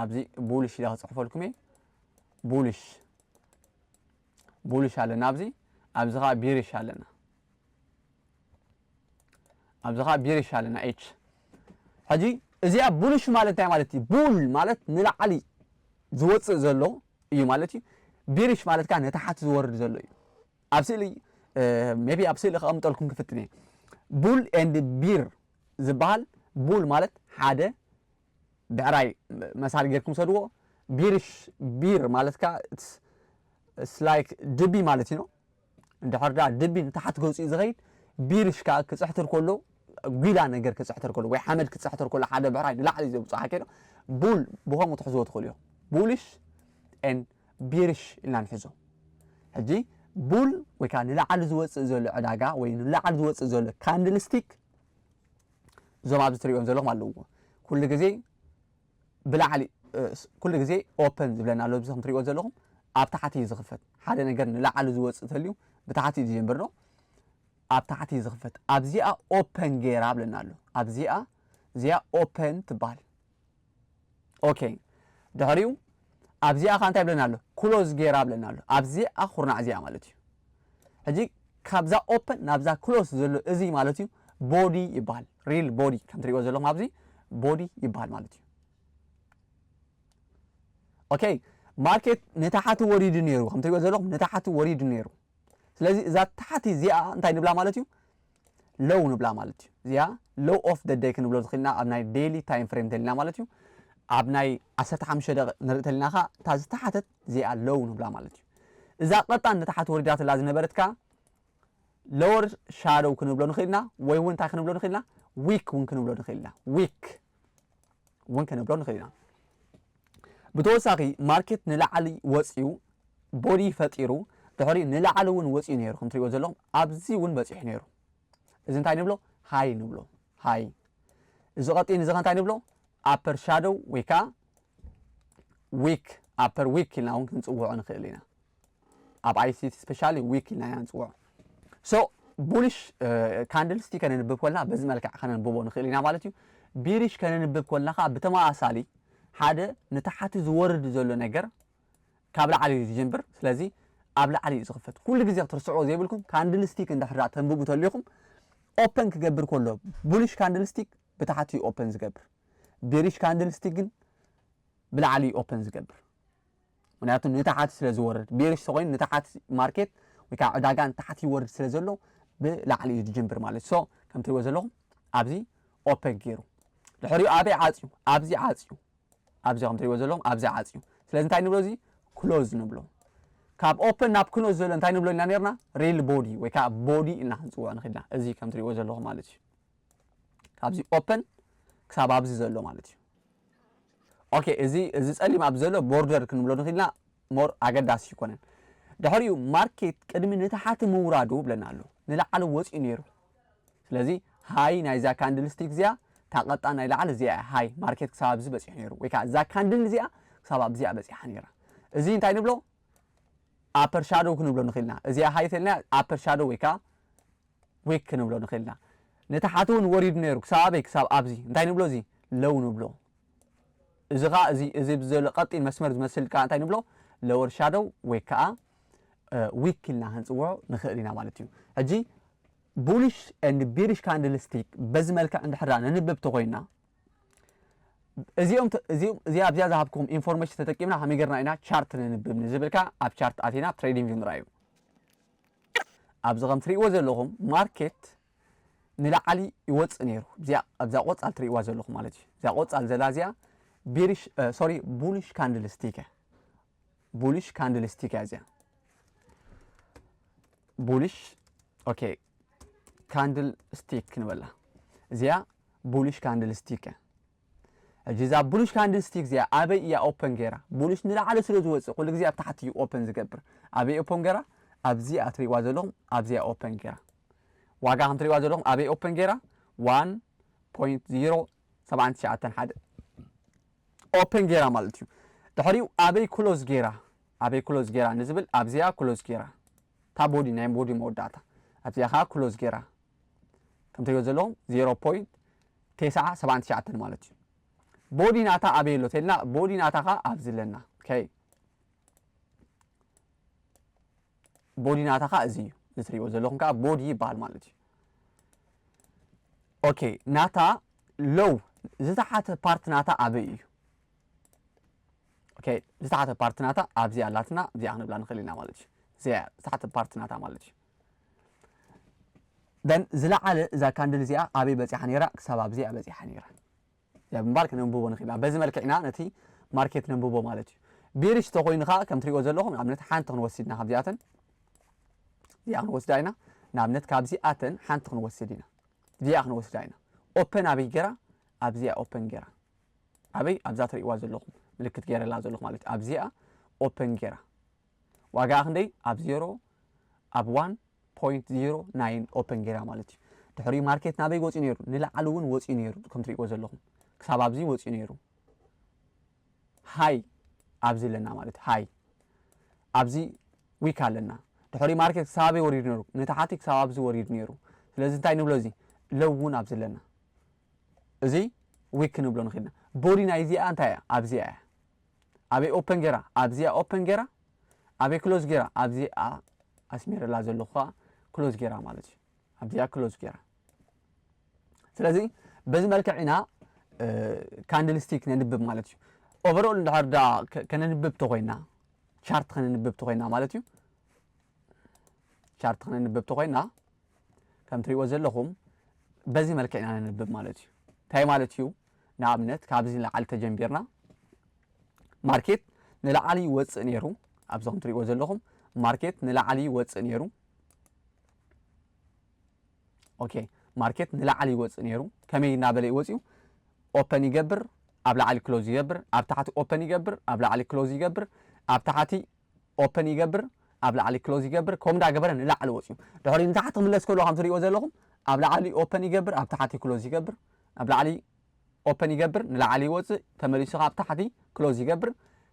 ኣብዚ ቡልሽ ኢለ ክፅሕፈልኩም እየ ቡልሽ ቡልሽ ኣለና ኣብዚ ኣብዚ ከዓ ቢሪሽ ኣለና ኣብዚ ከዓ ቢሪሽ ኣለና ኤች ሕጂ እዚኣ ቡልሽ ማለት እንታይ ማለት እዩ ቡል ማለት ንላዕሊ ዝወፅእ ዘሎ እዩ ማለት እዩ ቢሪሽ ማለት ከዓ ነታሓቲ ዝወርድ ዘሎ እዩ ኣብ ስእሊ ሜቢ ኣብ ስእሊ ከቐምጠልኩም ክፍትን እየ ቡል ኤንድ ቢር ዝበሃል ቡል ማለት ሓደ ብዕራይ መሳሊ ጌርኩም ውሰድዎ ቢርሽ ቢር ማለት ከኣ it's it's like ድቢ ማለት እዩ እንድሕር ደኣ ድቢ ንታሕቲ ገጹ እዩ ዝኸይድ ቢርሽ ከኣ ክጽሕትር ከሎ ጒላ ነገር ክጽሕትር ከሎ ወይ ሓመድ ክጽሕትር ከሎ ሓደ ብዕራይ ንላዕሊ እዩ ዘውጽእ ሓኬዶ ቡል ብኸምኡ ትሕዝዎ ትኽእሉ እዮም ቡልሽ ን ቢርሽ ኢልና ንሕዞ ሕጂ ቡል ወይ ከዓ ንላዕሊ ዝወፅእ ዘሎ ዕዳጋ ወይ ንላዕሊ ዝወፅእ ዘሎ ካንድልስቲክ እዞም ኣብዚ ትሪኦም ዘለኹም ኣለውዎ ኩሉ ግዜ ብላዕሊ ኩሉ ግዜ ኦፐን ዝብለና ኣሎ እዚ ከም ትሪኦ ዘለኹም ኣብ ታሕቲ እዩ ዝኽፈት ሓደ ነገር ንላዕሊ ዝወፅእ ተልዩ ብታሕቲ እዩ ዝጀምር ዶ ኣብ ታሕቲ እዩ ዝኽፈት ኣብዚኣ ኦፐን ገይራ ብለና ኣሎ ኣብዚኣ እዚኣ ኦፐን ትበሃል ኦኬ ድሕሪኡ ኣብዚኣ ከ እንታይ ብለና ኣሎ ክሎዝ ጌራ ብለና ኣሎ ኣብዚኣ ኩርናዕ እዚኣ ማለት እዩ ሕጂ ካብዛ ኦፐን ናብዛ ክሎስ ዘሎ እዚ ማለት እዩ ቦዲ ይበሃል ሪል ቦዲ ከም ትሪእዎ ዘለኹም ኣብዚ ቦዲ ይበሃል ማለት እዩ ኦኬ ማርኬት ንታሓቲ ወሪዱ ነይሩ ከም ትሪእዎ ዘለኹም ንታሓቲ ወሪዱ ነይሩ ስለዚ እዛ ታሓቲ እዚኣ እንታይ ንብላ ማለት እዩ ሎው ንብላ ማለት እዩ እዚኣ ሎው ኦፍ ደ ደይ ክንብሎ ዝኽእልና ኣብ ናይ ዴይሊ ታይም ፍሬም ተልና ማለት እዩ ኣብ ናይ 15 ደቂ ንርኢ ተልና ከ እታ ዝተሓተት እዚኣ ሎው ንብላ ማለት እዩ እዛ ቀጣን ንታሓት ወሪዳትላ ዝነበረት ከ ሎወር ሻዶው ክንብሎ ንኽእልና ወይ እውን እንታይ ክንብሎ ንኽእልና ዊክ እውን ክንብሎ ንኽእልና ዊክ እውን ከነብሎ ንኽእል ኢና። ብተወሳኺ ማርኬት ንላዕሊ ወፅዩ ቦዲ ፈጢሩ ድሕሪኡ ንላዕሊ እውን ወፅዩ ነይሩ ከም ትሪእዎ ዘለኹም ኣብዚ እውን በፂሑ ነይሩ እዚ እንታይ ንብሎ ሃይ ንብሎ ሃይ እዚ ቀጢ ንዚ እንታይ ንብሎ ኣፐር ሻዶው ወይ ከዓ ዊክ ኣፐር ዊክ ኢልና እውን ክንፅውዖ ንኽእል ኢና። ኣብ ኣይሲቲ ስፔሻሊ ዊክ ኢልና ኢና ንፅውዖ ሶ ቡሊሽ ካንድል ስቲ ከነንብብ ኮልና በዚ መልክዕ ከነንብቦ ንኽእል ኢና ማለት እዩ ቢሪሽ ከነንብብ ኮልናኻ ብተመሳሳሊ ሓደ ንታሓቲ ዝወርድ ዘሎ ነገር ካብ ላዕሊ እዩ ዝጀምብር ስለዚ ኣብ ላዕሊ እዩ ዝኽፈት ኩሉ ግዜ ክትርስዕዎ ዘይብልኩም ካንድል ስቲክ እንድሕር ተንብቡ ተሊኹም ኦፐን ክገብር ከሎ ቡሊሽ ካንድል ስቲክ ብታሓቲ እዩ ኦፐን ዝገብር ቢሪሽ ካንድል ስቲክ ግን ብላዕሊ እዩ ኦፐን ዝገብር ምክንያቱ ንታሓቲ ስለ ዝወርድ ቤርሽ ተኮይኑ ንታሓቲ ማርኬት ወይ ከዓ ዕዳጋ ንታሓቲ ይወርድ ስለ ዘሎ ብላዕሊ እዩ ዝጅምብር ማለት ሶ ከም ትሪእዎ ዘለኹም ኣብዚ ኦፐን ገይሩ ድሕሪኡ ኣበይ ዓፅዩ ኣብዚ ዓፅዩ ኣብዚ ከም ትሪእዎ ዘለኹም ኣብዚ ዓፅዩ ስለዚ እንታይ ንብሎ እዚ ክሎዝ ንብሎ ካብ ኦፐን ናብ ክሎዝ ዘሎ እንታይ ንብሎ ኢና ነርና ሬል ቦዲ ወይ ከዓ ቦዲ እና ክንፅውዖ ንኽእልና እዚ ከም ትሪእዎ ዘለኹም ማለት እዩ ካብዚ ኦፐን ክሳብ ኣብዚ ዘሎ ማለት እዩ ኦኬ እዚ እዚ ጸሊም ኣብ ዘሎ ቦርደር ክንብሎ ንኽኢልና ሞር ኣገዳሲ ይኮነን ድሕሪኡ ማርኬት ቅድሚ ንታሓቲ ምውራዱ ብለና ኣሎ ንላዕሊ ወጺኡ ነይሩ ስለዚ ሃይ ናይዛ ካንድል ስቲክ እዚኣ ታቐጣ ናይ ላዕሊ እዚኣ እያ ሃይ ማርኬት ክሳብ ኣብዚ በጺሑ ነይሩ ወይ ከዓ እዛ ካንድል እዚኣ ክሳብ ኣብዚኣ በጺሓ ነይራ እዚ እንታይ ንብሎ ኣፐር ሻዶው ክንብሎ ንኽኢልና እዚኣ ሃይ ተልና ኣፐር ሻዶው ወይ ከዓ ዊክ ክንብሎ ንኽእል ኢና። ንታሓቲ ውን ወሪዱ ነይሩ ክሳብ ኣበይ ክሳብ ኣብዚ እንታይ ንብሎ እዚ Low ንብሎ እዚ ኸኣ እዚ እዚ ኣብዚ ዘሎ ቀጢን መስመር ዝመስል ከኣ እንታይ ንብሎ Lower Shadow ወይ ከኣ ዊክ ኢልና ክንጽውዖ ንኽእል ኢና ማለት እዩ። ሕጂ Bullish and Bearish Candlestick በዚ መልክዕ እንድሕር ደኣ ነንብብ ተኾይንና እዚኦም ተ- እዚኦም እዚኣ ኣብዚኣ ዝሃብኩም ኢንፎርሜሽን ተጠቂምና ከመይ ጌርና ኢና ቻርት ነንብብ ንዝብል ከኣ ኣብ ቻርት ኣቲና ትሬዲንግ ምርኣይ እዩ። ኣብዚ ከም ትሪእዎ ዘለኹም ማርኬት ንላዓሊ ይወፅእ ነይሩ እዚኣ ኣብዛ ቆፃል ትሪእዋ ዘለኹም ማለት እዩ እዚኣ ቆፃል ዘላ እዚኣ ቢሪሽ ሶሪ ቡሊሽ ካንድል ስቲክ እያ ቡሊሽ ካንድል ስቲክ እያ እዚኣ ቡሊሽ ኦኬ ካንድል ስቲክ ንበላ እዚኣ ቡሊሽ ካንድል ስቲክ እያ ሕጂ እዛ ቡሉሽ ካንድል ስቲክ እዚኣ ኣበይ እያ ኦፐን ጌራ ቡሉሽ ንላዕሊ ስለ ዝወጽእ ኩሉ ግዜ ኣብ ታሕቲ እዩ ኦፐን ዝገብር ኣበይ ኦፐን ጌራ ኣብዚኣ ትሪእዋ ዘለኹም ኣብዚኣ ኦፐን ጌራ ዋጋ ከም ትሪእዋ ዘለኹም ኣበይ ኦፐን ጌራ 1.0791 ሓደ ኦፐን ጌራ ማለት እዩ ድሕሪኡ ኣበይ ክሎዝ ጌራ ኣበይ ክሎዝ ጌራ ንዝብል ኣብዚኣ ክሎዝ ጌራ እታ ቦዲ ናይ ቦዲ መወዳእታ ኣብዚኣ ከዓ ክሎዝ ጌራ ከም ትሪእዎ ዘለኹም ዜሮ ፖይንት ቴስዓ ሰብዓን ትሽዓተን ማለት እዩ ቦዲ ናታ ኣበይ ኣሎ ተልና ቦዲ ናታ ኸ ኣብዚ ኣለና ከይ ቦዲ ናታ ኸ እዚ እዩ እዚ ትሪእዎ ዘለኹም ከዓ ቦዲ ይበሃል ማለት እዩ ኦኬ ናታ ሎው ዝተሓተ ፓርት ናታ ኣበይ እዩ ኦኬ ዝተሓተ ፓርት ናታ ኣብዚ ኣላትና እዚኣ ክንብላ ንኽእል ኢና ማለት እዩ እዚኣ ዝተሓተ ፓርት ናታ ማለት እዩ then ዝለዓለ እዛ ካንድል እዚኣ ኣበይ በጺሓ ነይራ ክሳብ ኣብዚ እያ በጺሓ ነይራ እዚኣ ብምባል ክነንብቦ ንኽእል ኢና በዚ መልክዕ ኢና ነቲ ማርኬት ነንብቦ ማለት እዩ ቢሪሽ ተኾይኑ ከዓ ከም ትሪኦ ዘለኹም ንኣብነት ሓንቲ ክንወስድ ኢና ካብዚኣተን እዚኣ ክንወስዳ ኢና ንኣብነት ካብዚኣተን ሓንቲ ክንወስድ ኢና እዚኣ ክንወስዳ ኢና ኦፐን ኣበይ ገራ ኣብዚኣ ኦፐን ገራ ኣበይ ኣብዛ ትሪእዋ ዘለኹም ምልክት ገይረላ ዘለኹ ማለት እዩ ኣብዚኣ ኦፐን ገራ ዋጋኣ ክንደይ ኣብ ዜሮ ኣብ ዋን ፖይንት ዜሮ ናይን ኦፕን ጌራ ማለት እዩ ድሕሪኡ ማርኬት ናበይ ወፅኡ ነይሩ ንላዕሊ እውን ወፅኡ ነይሩ ከም ትሪእዎ ዘለኹም ክሳብ ኣብዚ ወፅኡ ነይሩ ሃይ ኣብዚ ኣለና ማለት እዩ ሃይ ኣብዚ ዊክ ኣለና ድሕሪኡ ማርኬት ክሳብ ኣበይ ወሪዱ ነይሩ ንታሓቲ ክሳብ ኣብዚ ወሪዱ ነይሩ ስለዚ እንታይ ንብሎ እዚ ለው እውን ኣብዚ ኣለና እዚ ዊክ ክንብሎ ንኽእልና ቦዲ ናይዚኣ እንታይ እያ ኣብዚኣ እያ ኣበይ ኦፐን ጌራ ኣብዚኣ ኦፐን ጌራ ኣበይ ክሎዝ ጌራ ኣብዚኣ ኣስሚረላ ዘለኹ ከዓ ክሎዝ ጌራ ማለት እዩ ኣብዚኣ ክሎዝ ጌራ ስለዚ በዚ መልክዕ ኢና ካንድል ስቲክ ነንብብ ማለት እዩ ኦቨርኦል እንድሕር ዳ ከነንብብ ተኮይና ቻርት ከነንብብ ተኮይና ማለት እዩ ቻርት ከነንብብ ተኮይና ከም ትሪእዎ ዘለኹም በዚ መልክዕ ኢና ነንብብ ማለት እዩ እንታይ ማለት እዩ ንኣብነት ካብዚ ንላዕሊ ተጀምቢርና ማርኬት ንላዕሊ ይወፅእ ነይሩ ኣብዚ ከም ትሪእዎ ዘለኹም ማርኬት ንላዕሊ ይወፅእ ነይሩ ኦኬ ማርኬት ንላዕሊ ይወፅእ ነይሩ ከመይ እናበለ ይወፅዩ ኦፐን ይገብር ኣብ ላዕሊ ክሎዝ ይገብር ኣብ ታሕቲ ኦፐን ይገብር ኣብ ላዕሊ ክሎዝ ይገብር ኣብ ታሕቲ ኦፐን ይገብር ኣብ ላዕሊ ክሎዝ ይገብር ከምኡ እንዳገበረ ንላዕሊ ወጽዩ ድሕሪኡ ንታሕቲ ክምለስ ከሎ ከም ትሪእዎ ዘለኹም ኣብ ላዕሊ ኦፐን ይገብር ኣብ ታሕቲ ክሎዝ ይገብር ኣብ ላዕሊ ኦፐን ይገብር ንላዕሊ ይወጽእ ተመሊሱ ካብ ታሕቲ ክሎዝ ይገብር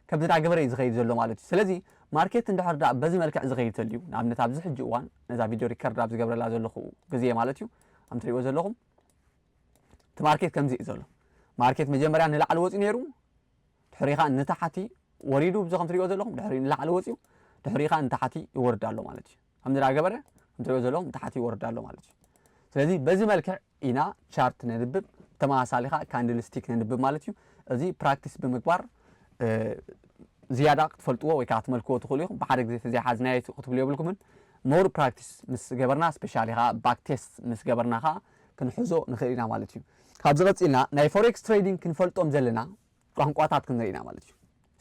ከምዚ እንዳገበረ እዩ ዝኸይድ ዘሎ ማለት እዩ ስለዚ ማርኬት እንድሕር ደኣ በዚ መልክዕ ዝኸይድ ተልዩ ንኣብነት ኣብዚ ሕጂ እዋን ነዛ ቪድዮ ሪከርድ ኣብ ዝገብረላ ዘለኹ ግዜ ማለት እዩ ከም ትሪእዎ ዘለኹም እቲ ማርኬት ከምዚ እዩ ዘሎ ማርኬት መጀመርያ ንላዕሊ ወጽዩ ነይሩ ድሕሪ ከኣ ንታሕቲ ወሪዱ እዚ ከምትሪእዎ ዘለኹም ድሕሪ ንላዕሊ ወጺኡ ድሕሪ ከኣ ንታሕቲ ይወርድ ኣሎ ማለት እዩ ከምዚ ዳ ገበረ ከምትሪእዎ ዘለኹም ንታሕቲ ይወርድ ኣሎ ማለት እዩ ስለዚ በዚ መልክዕ ኢና ቻርት ነንብብ ተመሳሳሊ ከኣ ካንድል ስቲክ ነንብብ ማለት እዩ እዚ ፕራክቲስ ብምግባር ዝያዳ ክትፈልጥዎ ወይ ከዓ ክትመልክዎ ትኽእሉ ኢኹም ብሓደ ግዜ ተዘይሓዝናዮ ክትብሉ የብልኩምን ሞር ፕራክቲስ ምስ ገበርና ስፔሻሊ ከዓ ባክ ቴስት ምስ ገበርና ከዓ ክንሕዞ ንኽእል ኢና ማለት እዩ። ካብዚ ቀጺልና ናይ ፎሬክስ ትሬዲንግ ክንፈልጦም ዘለና ቋንቋታት ክንርኢ ኢና ማለት እዩ።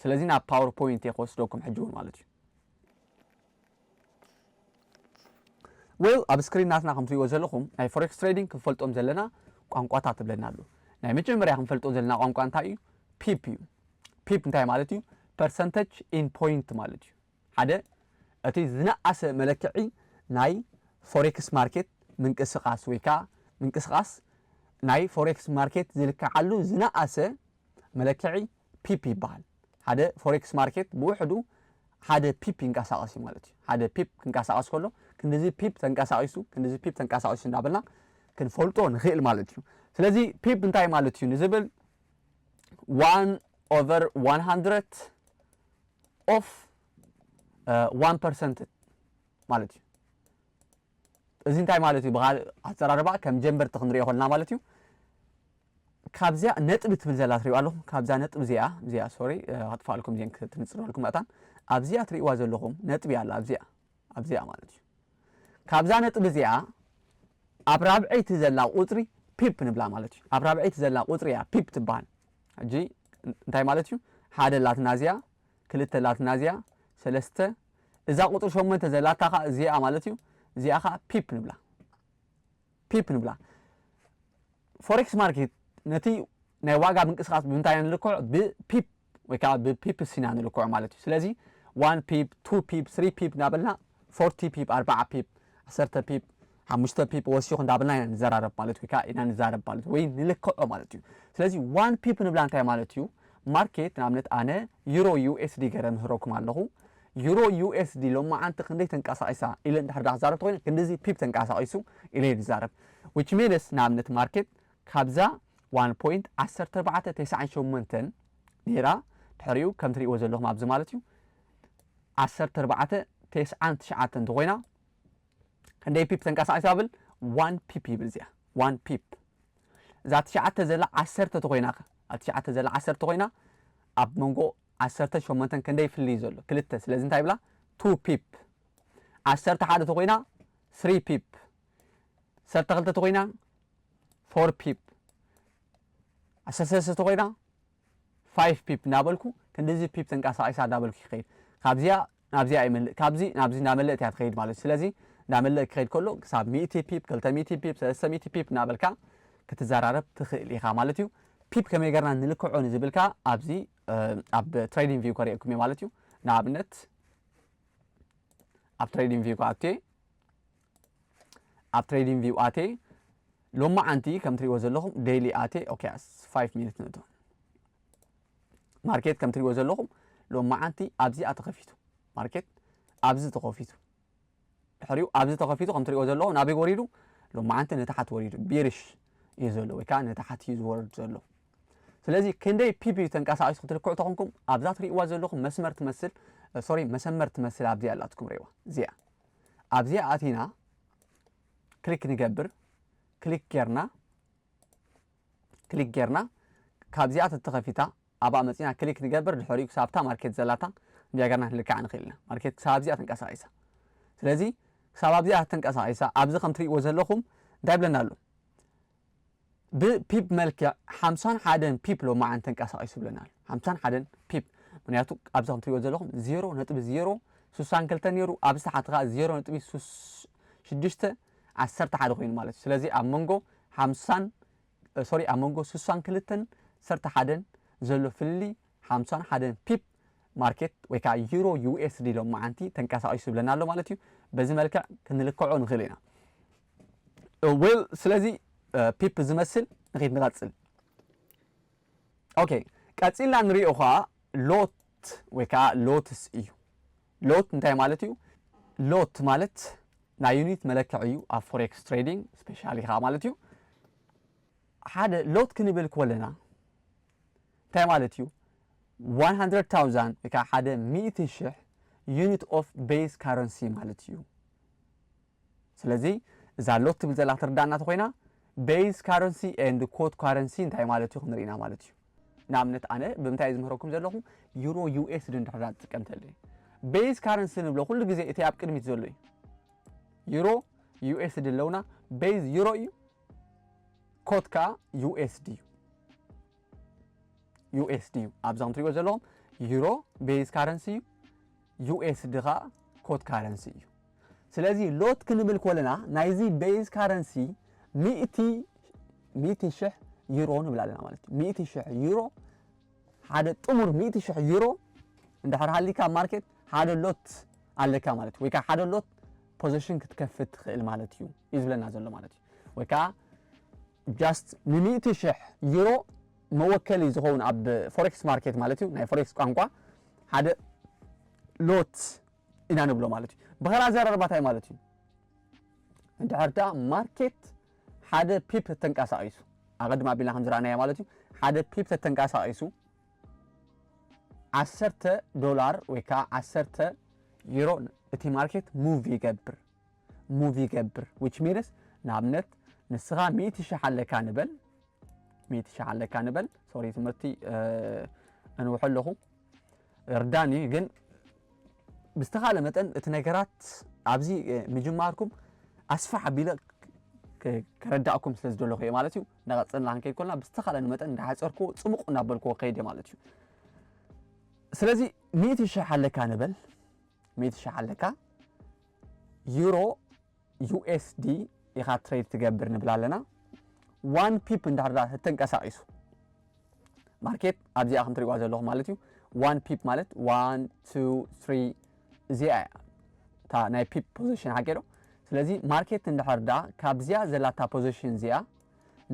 ስለዚ ናብ ፓወር ፖይንት እየ ክወስደኩም ሕጂ እውን ማለት እዩ። ዌል ኣብ ስክሪን ናትና ከም ትሪእዎ ዘለኹም ናይ ፎሬክስ ትሬዲንግ ክንፈልጦም ዘለና ቋንቋታት እብለና ኣሎ ናይ መጀመርያ ክንፈልጦ ዘለና ቋንቋ እንታይ እዩ ፒፕ እዩ ፒፕ እንታይ ማለት እዩ ፐርሰንተጅ ኢን ፖይንት ማለት እዩ ሓደ እቲ ዝነኣሰ መለክዒ ናይ ፎሬክስ ማርኬት ምንቅስቓስ ወይ ከኣ ምንቅስቓስ ናይ ፎሬክስ ማርኬት ዝልከዓሉ ዝነኣሰ መለክዒ ፒፕ ይበሃል። ሓደ ፎሬክስ ማርኬት ብውሕዱ ሓደ ፒፕ ይንቀሳቐስ እዩ ማለት እዩ። ሓደ ፒፕ ክንቀሳቐስ ከሎ ክንድዚ ፒፕ ተንቀሳቒሱ ክንድዚ ፒፕ ተንቀሳቒሱ እንዳበልና ክንፈልጦ ንኽእል ማለት እዩ። ስለዚ ፒፕ እንታይ ማለት እዩ ንዝብል ዋን ኦቨር ዋን ሃንድረድ ኦፍ ዋን ፐርሰንት ማለት እዩ። እዚ እንታይ ማለት እዩ? ብካልእ ኣዘራርባ ከም ጀምበርቲ ክንሪኦ ከለና ማለት እዩ ካብዚያ ነጥቢ ትብል ዘላ ትሪእዋ ኣለኹም ካብዛ ነጥቢ እዚኣ እዚኣ ሶሪ ከጥፋኣልኩም ዜን ክትንፅረልኩም መእታን ኣብዚኣ ትሪእዋ ዘለኹም ነጥቢ ኣላ ኣብዚኣ ኣብዚኣ ማለት እዩ ካብዛ ነጥቢ እዚኣ ኣብ ራብዐይቲ ዘላ ቁፅሪ ፒፕ ንብላ ማለት እዩ ኣብ ራብዐይቲ ዘላ ቁፅሪ እያ ፒፕ ትበሃል ሕጂ እንታይ ማለት እዩ ሓደ ላትናዝያ ክልተ ላትናዝያ ሰለስተ እዛ ቁፅሪ ሸሞንተ ዘላታ ከዓ እዚኣ ማለት እዩ እዚኣ ከዓ ፒፕ ንብላ ፒፕ ንብላ ፎሬክስ ማርኬት ነቲ ናይ ዋጋ ምንቅስቃስ ብምንታይ ንልክዖ ብፒፕ ወይ ከዓ ብፒፕስ ኢና ንልክዖ ማለት እዩ ስለዚ ዋን ፒፕ ቱ ፒፕ ስሪ ፒፕ እናበልና ፎርቲ ፒፕ ኣርባዓ ፒፕ ዓሰርተ ፒፕ ሓሙሽተ ፒፕ ወሲኹ እንዳበልና ኢና ንዘራረብ ማለት ወይ ከዓ ኢና ንዛረብ ማለት ወይ ንልክዖ ማለት እዩ። ስለዚ ዋን ፒፕ ንብላ እንታይ ማለት እዩ? ማርኬት ንኣብነት ኣነ ዩሮ ዩኤስዲ ገይረ ምህረኩም ኣለኹ። ዩሮ ዩኤስዲ ሎማዓንቲ ክንደይ ተንቀሳቒሳ ኢለ እንድሕር ዳኣ ክዛረብ ተኾይነ ክንድዚ ፒፕ ተንቀሳቒሱ ኢለ እየ ዝዛረብ። ዊች ሚንስ ንኣብነት ማርኬት ካብዛ ዋን ፖይንት ዓሰርተ ኣርባዕተ ተስዓን ሸሞንተን ነይራ ድሕሪኡ ከም ትሪእዎ ዘለኹም ኣብዚ ማለት እዩ ዓሰርተ ኣርባዕተ ተስዓን ትሽዓተን ተኾይና ክንደይ ፒፕ ተንቀሳቂሳ ይብል ዋን ፒፕ ይብል እዚኣ ዋን ፒፕ እዛ ትሽዓተ ዘላ ዓሰርተ ተኮይና ከ ኣብ ትሽዓተ ዘላ ዓሰርተ ኮይና ኣብ መንጎ ዓሰርተን ሸሞንተን ክንደይ ፍልይ ዘሎ ክልተ ስለዚ እንታይ ይብላ ቱ ፒፕ ዓሰርተ ሓደ ተኮይና ስሪ ፒፕ ዓሰርተ ክልተ ተኮይና ፎር ፒፕ ዓሰርተ ሰለስተ ተኮይና ፋይፍ ፒፕ እንዳበልኩ ክንድዚ ፒፕ ተንቃሳቂሳ እንዳበልኩ ይከይድ ካብዚኣ ናብዚኣ ይመልእ ካብዚ ናብዚ እንዳመለእት እያ ትከይድ ማለት እዩ ስለዚ እንዳመለእ ክከይድ ከሎ ክሳብ ሚእቲ ፒፕ ክልተ ሚእቲ ፒፕ ሰለስተ ሚእቲ ፒፕ እንዳበልካ ክትዘራረብ ትክእል ኢካ ማለት እዩ ፒፕ ከመይ ገርና ንልክዖ ንዝብል ከኣ ኣብዚ ኣብ ትሬዲንግ ቪው ከርእየኩም እየ ማለት እዩ ንኣብነት ኣብ ትሬዲንግ ቪው ከኣ ኣትየ ኣብ ትሬዲንግ ቪው ኣቴ ሎማዓንቲ ከም ትሪእዎ ዘለኹም ዴይሊ ኣቴ ኦኬ ኣስ 5 ሚኒት ንእቶ ማርኬት ከም ትሪእዎ ዘለኹም ሎማዓንቲ ኣብዚኣ ተኸፊቱ ማርኬት ኣብዚ ተኸፊቱ ድሕሪኡ ኣብዚ ተኸፊቱ ከም ትሪእዎ ዘለኹም ናበይ ወሪዱ ሎማዓንቲ ንታሓት ወሪዱ ቢርሽ እዩ ዘሎ ወይ ከዓ ንታሓት እዩ ዝወርድ ዘሎ ስለዚ ክንደይ ፒፒ ተንቀሳቂሱ ክትልክዑ ተኾንኩም ኣብዛ ትሪእዋ ዘለኹም መስመር ትመስል ሶሪ መሰመር ትመስል ኣብዚኣ ኣላትኩም ሪእዋ እዚኣ ኣብዚ ኣቲና ክሊክ ንገብር ክሊክ ጌርና ክሊክ ጌርና ካብዚኣ ተተኸፊታ ኣብኣ መፂና ክሊክ ንገብር ድሕሪኡ ክሳብታ ማርኬት ዘላታ እንዲያ ገርና ክንልክዓ ንኽእል ኢና ማርኬት ክሳብ ኣብዚኣ ተንቀሳቒሳ ስለዚ ክሳብ ኣብዚኣ ተንቀሳቒሳ ኣብዚ ከም ትሪእዎ ዘለኹም እንታይ ብለና ኣሎ ብፒፕ መልክዕ ሓምሳን ሓደን ፒፕ ሎማዓንቲ ተንቀሳቒሱ ይብለና ኣሎ። ሓምሳን ሓደን ፒፕ ምክንያቱ ኣብዚ ከም ትሪእዎ ዘለኹም ዜሮ ነጥቢ ዜሮ ስሳን ክልተ ነይሩ ኣብዚ ታሕቲ ከዓ ዜሮ ነጥቢ ሽዱሽተ ዓሰርተ ሓደ ኮይኑ ማለት እዩ። ስለዚ ኣብ መንጎ ሓምሳን ሶሪ ኣብ መንጎ ስሳን ክልተን ሰርተ ሓደን ዘሎ ፍልልይ ሓምሳን ሓደን ፒፕ ማርኬት ወይ ከዓ ዩሮ ዩኤስዲ ሎማዓንቲ ተንቀሳቒሱ ይብለና ኣሎ ማለት እዩ። በዚ መልክዕ ክንልክዖ ንኽእል ኢና። ዌል ስለዚ ፒፕ ዝመስል ንኺድ ንቐጽል ኦኬ ቀጺልና ንሪኦ ኸኣ ሎት ወይ ከዓ ሎትስ እዩ ሎት እንታይ ማለት እዩ ሎት ማለት ናይ ዩኒት መለክዕ እዩ ኣብ ፎሬክስ ትሬዲንግ ስፔሻሊ ከዓ ማለት እዩ ሓደ ሎት ክንብል ኮለና እንታይ ማለት እዩ 100,000 ወይ ከዓ ሓደ 100 ሽሕ ዩኒት ኦፍ ቤዝ ካረንሲ ማለት እዩ ስለዚ እዛ ሎት ትብል ዘላ ክትርዳኣና ተኾይና Base Currency and Quote Currency እንታይ ማለት እዩ ክንርኢ ኢና ማለት እዩ። ንኣብነት ኣነ ብምንታይ እየ ዝምህረኩም ዘለኹ ዩሮ ዩኤስዲ እንድሕር ዳ ትጥቀም ተልየ Base Currency ንብሎ ኩሉ ግዜ እቲ ኣብ ቅድሚት ዘሎ እዩ። ዩሮ ዩኤስዲ ኣለውና Base ዩሮ እዩ ኮት ከዓ ዩኤስዲ እዩ። ዩኤስዲ እዩ ኣብዛ ትሪእዎ ዘለኹም ዩሮ ቤዝ ካረንሲ እዩ ዩኤስዲ ከዓ ኮት ካረንሲ እዩ ስለዚ ሎት ክንብል ኮለና ናይዚ ቤዝ ካረንሲ ሚእቲ ሽሕ ዩሮ ንብል ኣለና ማለት እዩ ሚእቲ ሽሕ ዩሮ ሓደ ጥሙር ሚእቲ ሽሕ ዩሮ እንድሕር ሃሊካ ማርኬት ሓደ ሎት ኣለካ ማለት እዩ ወይ ከዓ ሓደ ሎት ፖዚሽን ክትከፍት ትኽእል ማለት እዩ እዩ ዝብለና ዘሎ ማለት እዩ ወይ ከኣ just ንሚእቲ ሽሕ ዩሮ መወከሊ ዝኸውን ኣብ ፎሬክስ ማርኬት ማለት እዩ ናይ ፎሬክስ ቋንቋ ሓደ ሎት ኢና ንብሎ ማለት እዩ ብኸራ ዘረርባ እንታይ ማለት እዩ እንድሕር ደኣ ማርኬት ሓደ ፒፕ ተንቀሳቒሱ ኣቐድም ኣቢልና ከም ዝረኣናዮ ማለት እዩ ሓደ ፒፕ ተተንቀሳቒሱ ዓሰርተ ዶላር ወይ ከዓ ዓሰርተ ዩሮ እቲ ማርኬት ሙቭ ይገብር ሙቭ ይገብር which means ንኣብነት ንስኻ ሚእቲ ሽሕ ኣለካ ንበል ሚእቲ ሽሕ ኣለካ ንበል ሶሪ ትምህርቲ እንውሖ ኣለኹ እርዳን እዩ ግን ብዝተኻለ መጠን እቲ ነገራት ኣብዚ ምጅማርኩም ኣስፋሕ ኣቢለ ከረዳእኩም ስለ ዝደለኹ እየ ማለት እዩ ንቐፅልና ክንከይድ ኮልና ብዝተኻለኒ መጠን እንዳሓፀርኩ ፅቡቕ እናበልክዎ ከይድ እየ ማለት እዩ ስለዚ ሚእቲ ሽሕ ኣለካ ንበል ሚእቲ ሽሕ ኣለካ ዩሮ ዩኤስዲ ኢኻ ትሬድ ትገብር ንብል ኣለና ዋን ፒፕ እንዳርዳ ተንቀሳቂሱ ማርኬት ኣብዚኣ ከም ትሪእዋ ዘለኹ ማለት እዩ ዋን ፒፕ ማለት ዋን ቱ ትሪ እዚኣ እያ እታ ናይ ፒፕ ፖዚሽን ሓቂ ዶ ስለዚ ማርኬት እንድሕር ዳ ካብዚኣ ዘላታ ፖዚሽን እዚኣ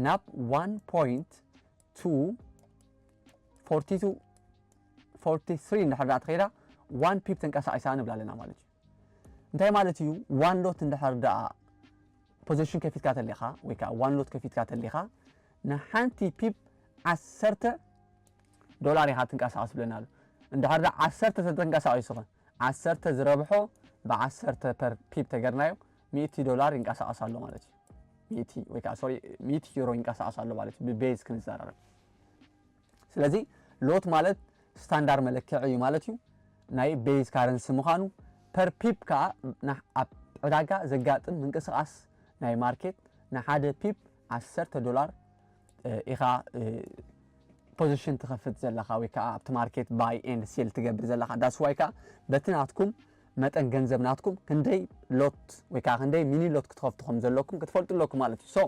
ናብ ዋን ፖይንት ቱ ፎርቲ ቱ ፎርቲ ትሪ እንድሕር ዳ ተኸይዳ ዋን ፒፕ ተንቀሳቂሳ ንብላ ኣለና ማለት እዩ እንታይ ማለት እዩ ዋን ሎት እንድሕር ደኣ ፖዘሽን ከፊትካ ተሊኻ ወይ ከዓ ዋን ሎት ከፊትካ ተሊኻ ንሓንቲ ፒፕ ዓሰርተ ዶላር ኢኻ ትንቀሳቐስ ብለና ኣሎ እንድሕር ደኣ ዓሰርተ ተተንቀሳቒሱ ኸ ዓሰርተ ዝረብሖ ብዓሰርተ ፐር ፒፕ ተገርናዮ ሚእቲ ዶላር ይንቀሳቐስ ኣሎ ማለት እዩ ሚእቲ ወይ ከዓ ሶሪ ሚእቲ ዩሮ ይንቀሳቐስ ኣሎ ማለት እዩ ብቤዝ ክንዘራረብ ስለዚ ሎት ማለት ስታንዳር መለክዒ እዩ ማለት እዩ ናይ ቤዝ ካረንሲ ምዃኑ ፐር ፒፕ ከዓ ኣብ ዕዳጋ ዘጋጥም ምንቅስቃስ ናይ ማርኬት ንሓደ ፒፕ ዓሰርተ ዶላር ኢኻ ፖዚሽን ትኸፍት ዘለኻ ወይ ከዓ ኣብቲ ማርኬት ባይ ኤንድ ሴል ትገብር ዘለኻ ዳስዋይ ከዓ በቲ ናትኩም መጠን ገንዘብ ናትኩም ክንደይ ሎት ወይ ከዓ ክንደይ ሚኒ ሎት ክትኸፍቱ ከም ዘለኩም ክትፈልጡ ኣለኩም ማለት እዩ ሶ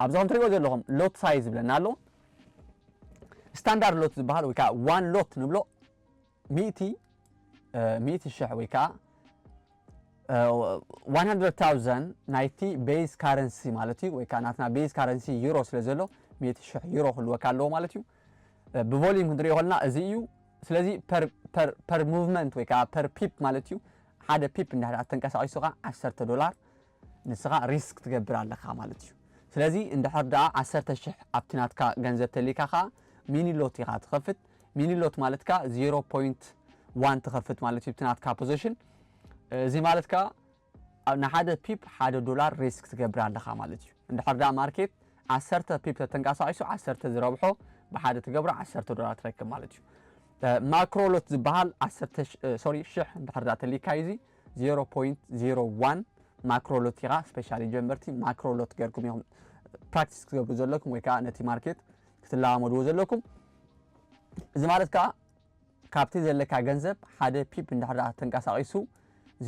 ኣብዚ ከም ትሪእዎ ዘለኹም ሎት ሳይዝ ይብለና ኣሎ ስታንዳርድ ሎት ዝበሃል ወይ ከዓ ዋን ሎት ንብሎ ሚእቲ ሚእቲ ሽሕ ወይ ከዓ 100,000 ናይቲ ቤዝ ካረንሲ ማለት እዩ ወይ ከዓ ናትና ቤዝ ካረንሲ ዩሮ ስለ ዘሎ ሚእቲ ሽሕ ዩሮ ክህልወካ ኣለዎ ማለት እዩ ብቮሊዩም ክንሪኦ ከለና እዚ እዩ ስለዚ ፐር ሙቭመንት ወይ ከዓ ፐር ፒፕ ማለት እዩ ሓደ ፒፕ እንዳ ተንቀሳቂሱካ 10 ዶላር ንስኻ ሪስክ ትገብር ኣለካ ማለት እዩ ስለዚ እንድሕር ደኣ ዓሰርተ ሽሕ ኣብቲ ናትካ ገንዘብ ተሊካ ከኣ ሚኒ ሎት ኢኻ ትኸፍት ሚኒ ሎት ማለት ከኣ ዜሮ ፖይንት ዋን ትኸፍት ማለት እዩ ብቲ ናትካ ፖዘሽን እዚ ማለት ከኣ ንሓደ ፒፕ ሓደ ዶላር ሪስክ ትገብር ኣለኻ ማለት እዩ እንድሕር ደኣ ማርኬት ዓሰርተ ፒፕ ተተንቀሳቂሱ ዓሰርተ ዝረብሖ ብሓደ ትገብሮ ዓሰርተ ዶላር ትረክብ ማለት እዩ ማክሮሎት ዝበሃል ዓሰርተ ሶሪ ሽሕ እንድሕር ደኣ ተሊካ እዩ እዚ ዜሮ ፖይንት ዜሮ ዋን ማክሮ ሎት ኢኻ ስፔሻሊ ጀመርቲ ማክሮ ሎት ገርኩም ኢኹም ፕራክቲስ ክትገብሩ ዘለኩም ወይ ከዓ ነቲ ማርኬት ክትለማመድዎ ዘለኩም እዚ ማለት ከዓ ካብቲ ዘለካ ገንዘብ ሓደ ፒፕ እንድሕር ተንቀሳቂሱ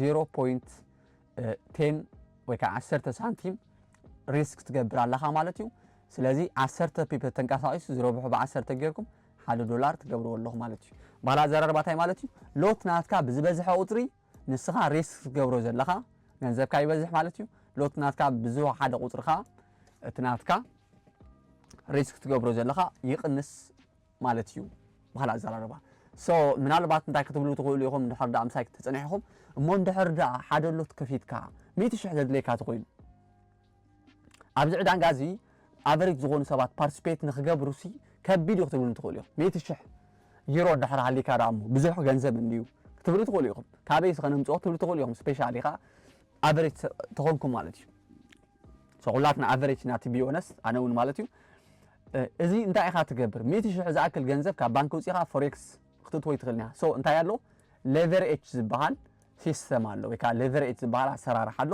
0.10 ወይ ከዓ 10 ሳንቲም ሪስክ ትገብር ኣለካ ማለት እዩ ስለዚ 10 ፒፕ ተንቀሳቂሱ ዝረብሑ ብ10 ጌርኩም ሓደ ዶላር ትገብርዎ ኣለኹ ማለት እዩ ባህላ ኣዘራርባ ታይ ማለት እዩ ሎት ናትካ ብዝበዝሐ ቁፅሪ ንስኻ ሬስክ ትገብሮ ዘለኻ ገንዘብካ ይበዝሕ ማለት እዩ ሎት ናትካ ብዝወሓደ ቁፅሪ ኸዓ እቲ ናትካ ሬስክ ትገብሮ ዘለኻ ይቕንስ ማለት እዩ ባህላ ኣዘራርባ ሶ ምናልባት እንታይ ክትብሉ ትኽእሉ ኢኹም እንድሕር ዳኣ ምሳይ ተፀኒሕኹም እሞ እንድሕር ዳኣ ሓደ ሎት ከፊትካ ሚእቲ ሽሕ ዘድልየካ ተኮይኑ ኣብዚ ዕዳንጋ እዚ ኣቨሪጅ ዝኾኑ ሰባት ፓርቲስፔት ንክገብሩሲ ከቢድ እዩ ክትብሉኒ ትኽእሉ ኢኹም። ሚእቲ ሽሕ ዩሮ እንድሕር ሃሊካ ደኣ እሞ ብዙሕ ገንዘብ እንድዩ ክትብሉ ትኽእሉ ኢኹም። ካበይሲ ከነምጽኦ ክትብሉ ትኽእሉ ኢኹም። ስፔሻሊ ከኣ ኣቨሬጅ ተኾንኩም ማለት እዩ። ሶ ኩላትና ኣቨሬጅ ኢና ቱ ቢ ኦነስት ኣነ እውን ማለት እዩ። እዚ እንታይ ኢኻ ትገብር? ሚእቲ ሽሕ ዝኣክል ገንዘብ ካብ ባንክ ውጺኻ ፎሬክስ ክትእትዎ ይትኽእል ኢና። ሶ እንታይ ኣሎ ሌቨሬጅ ዝበሃል ሲስተም ኣሎ ወይ ከዓ ሌቨሬጅ ዝበሃል ኣሰራርሓ ኣሎ።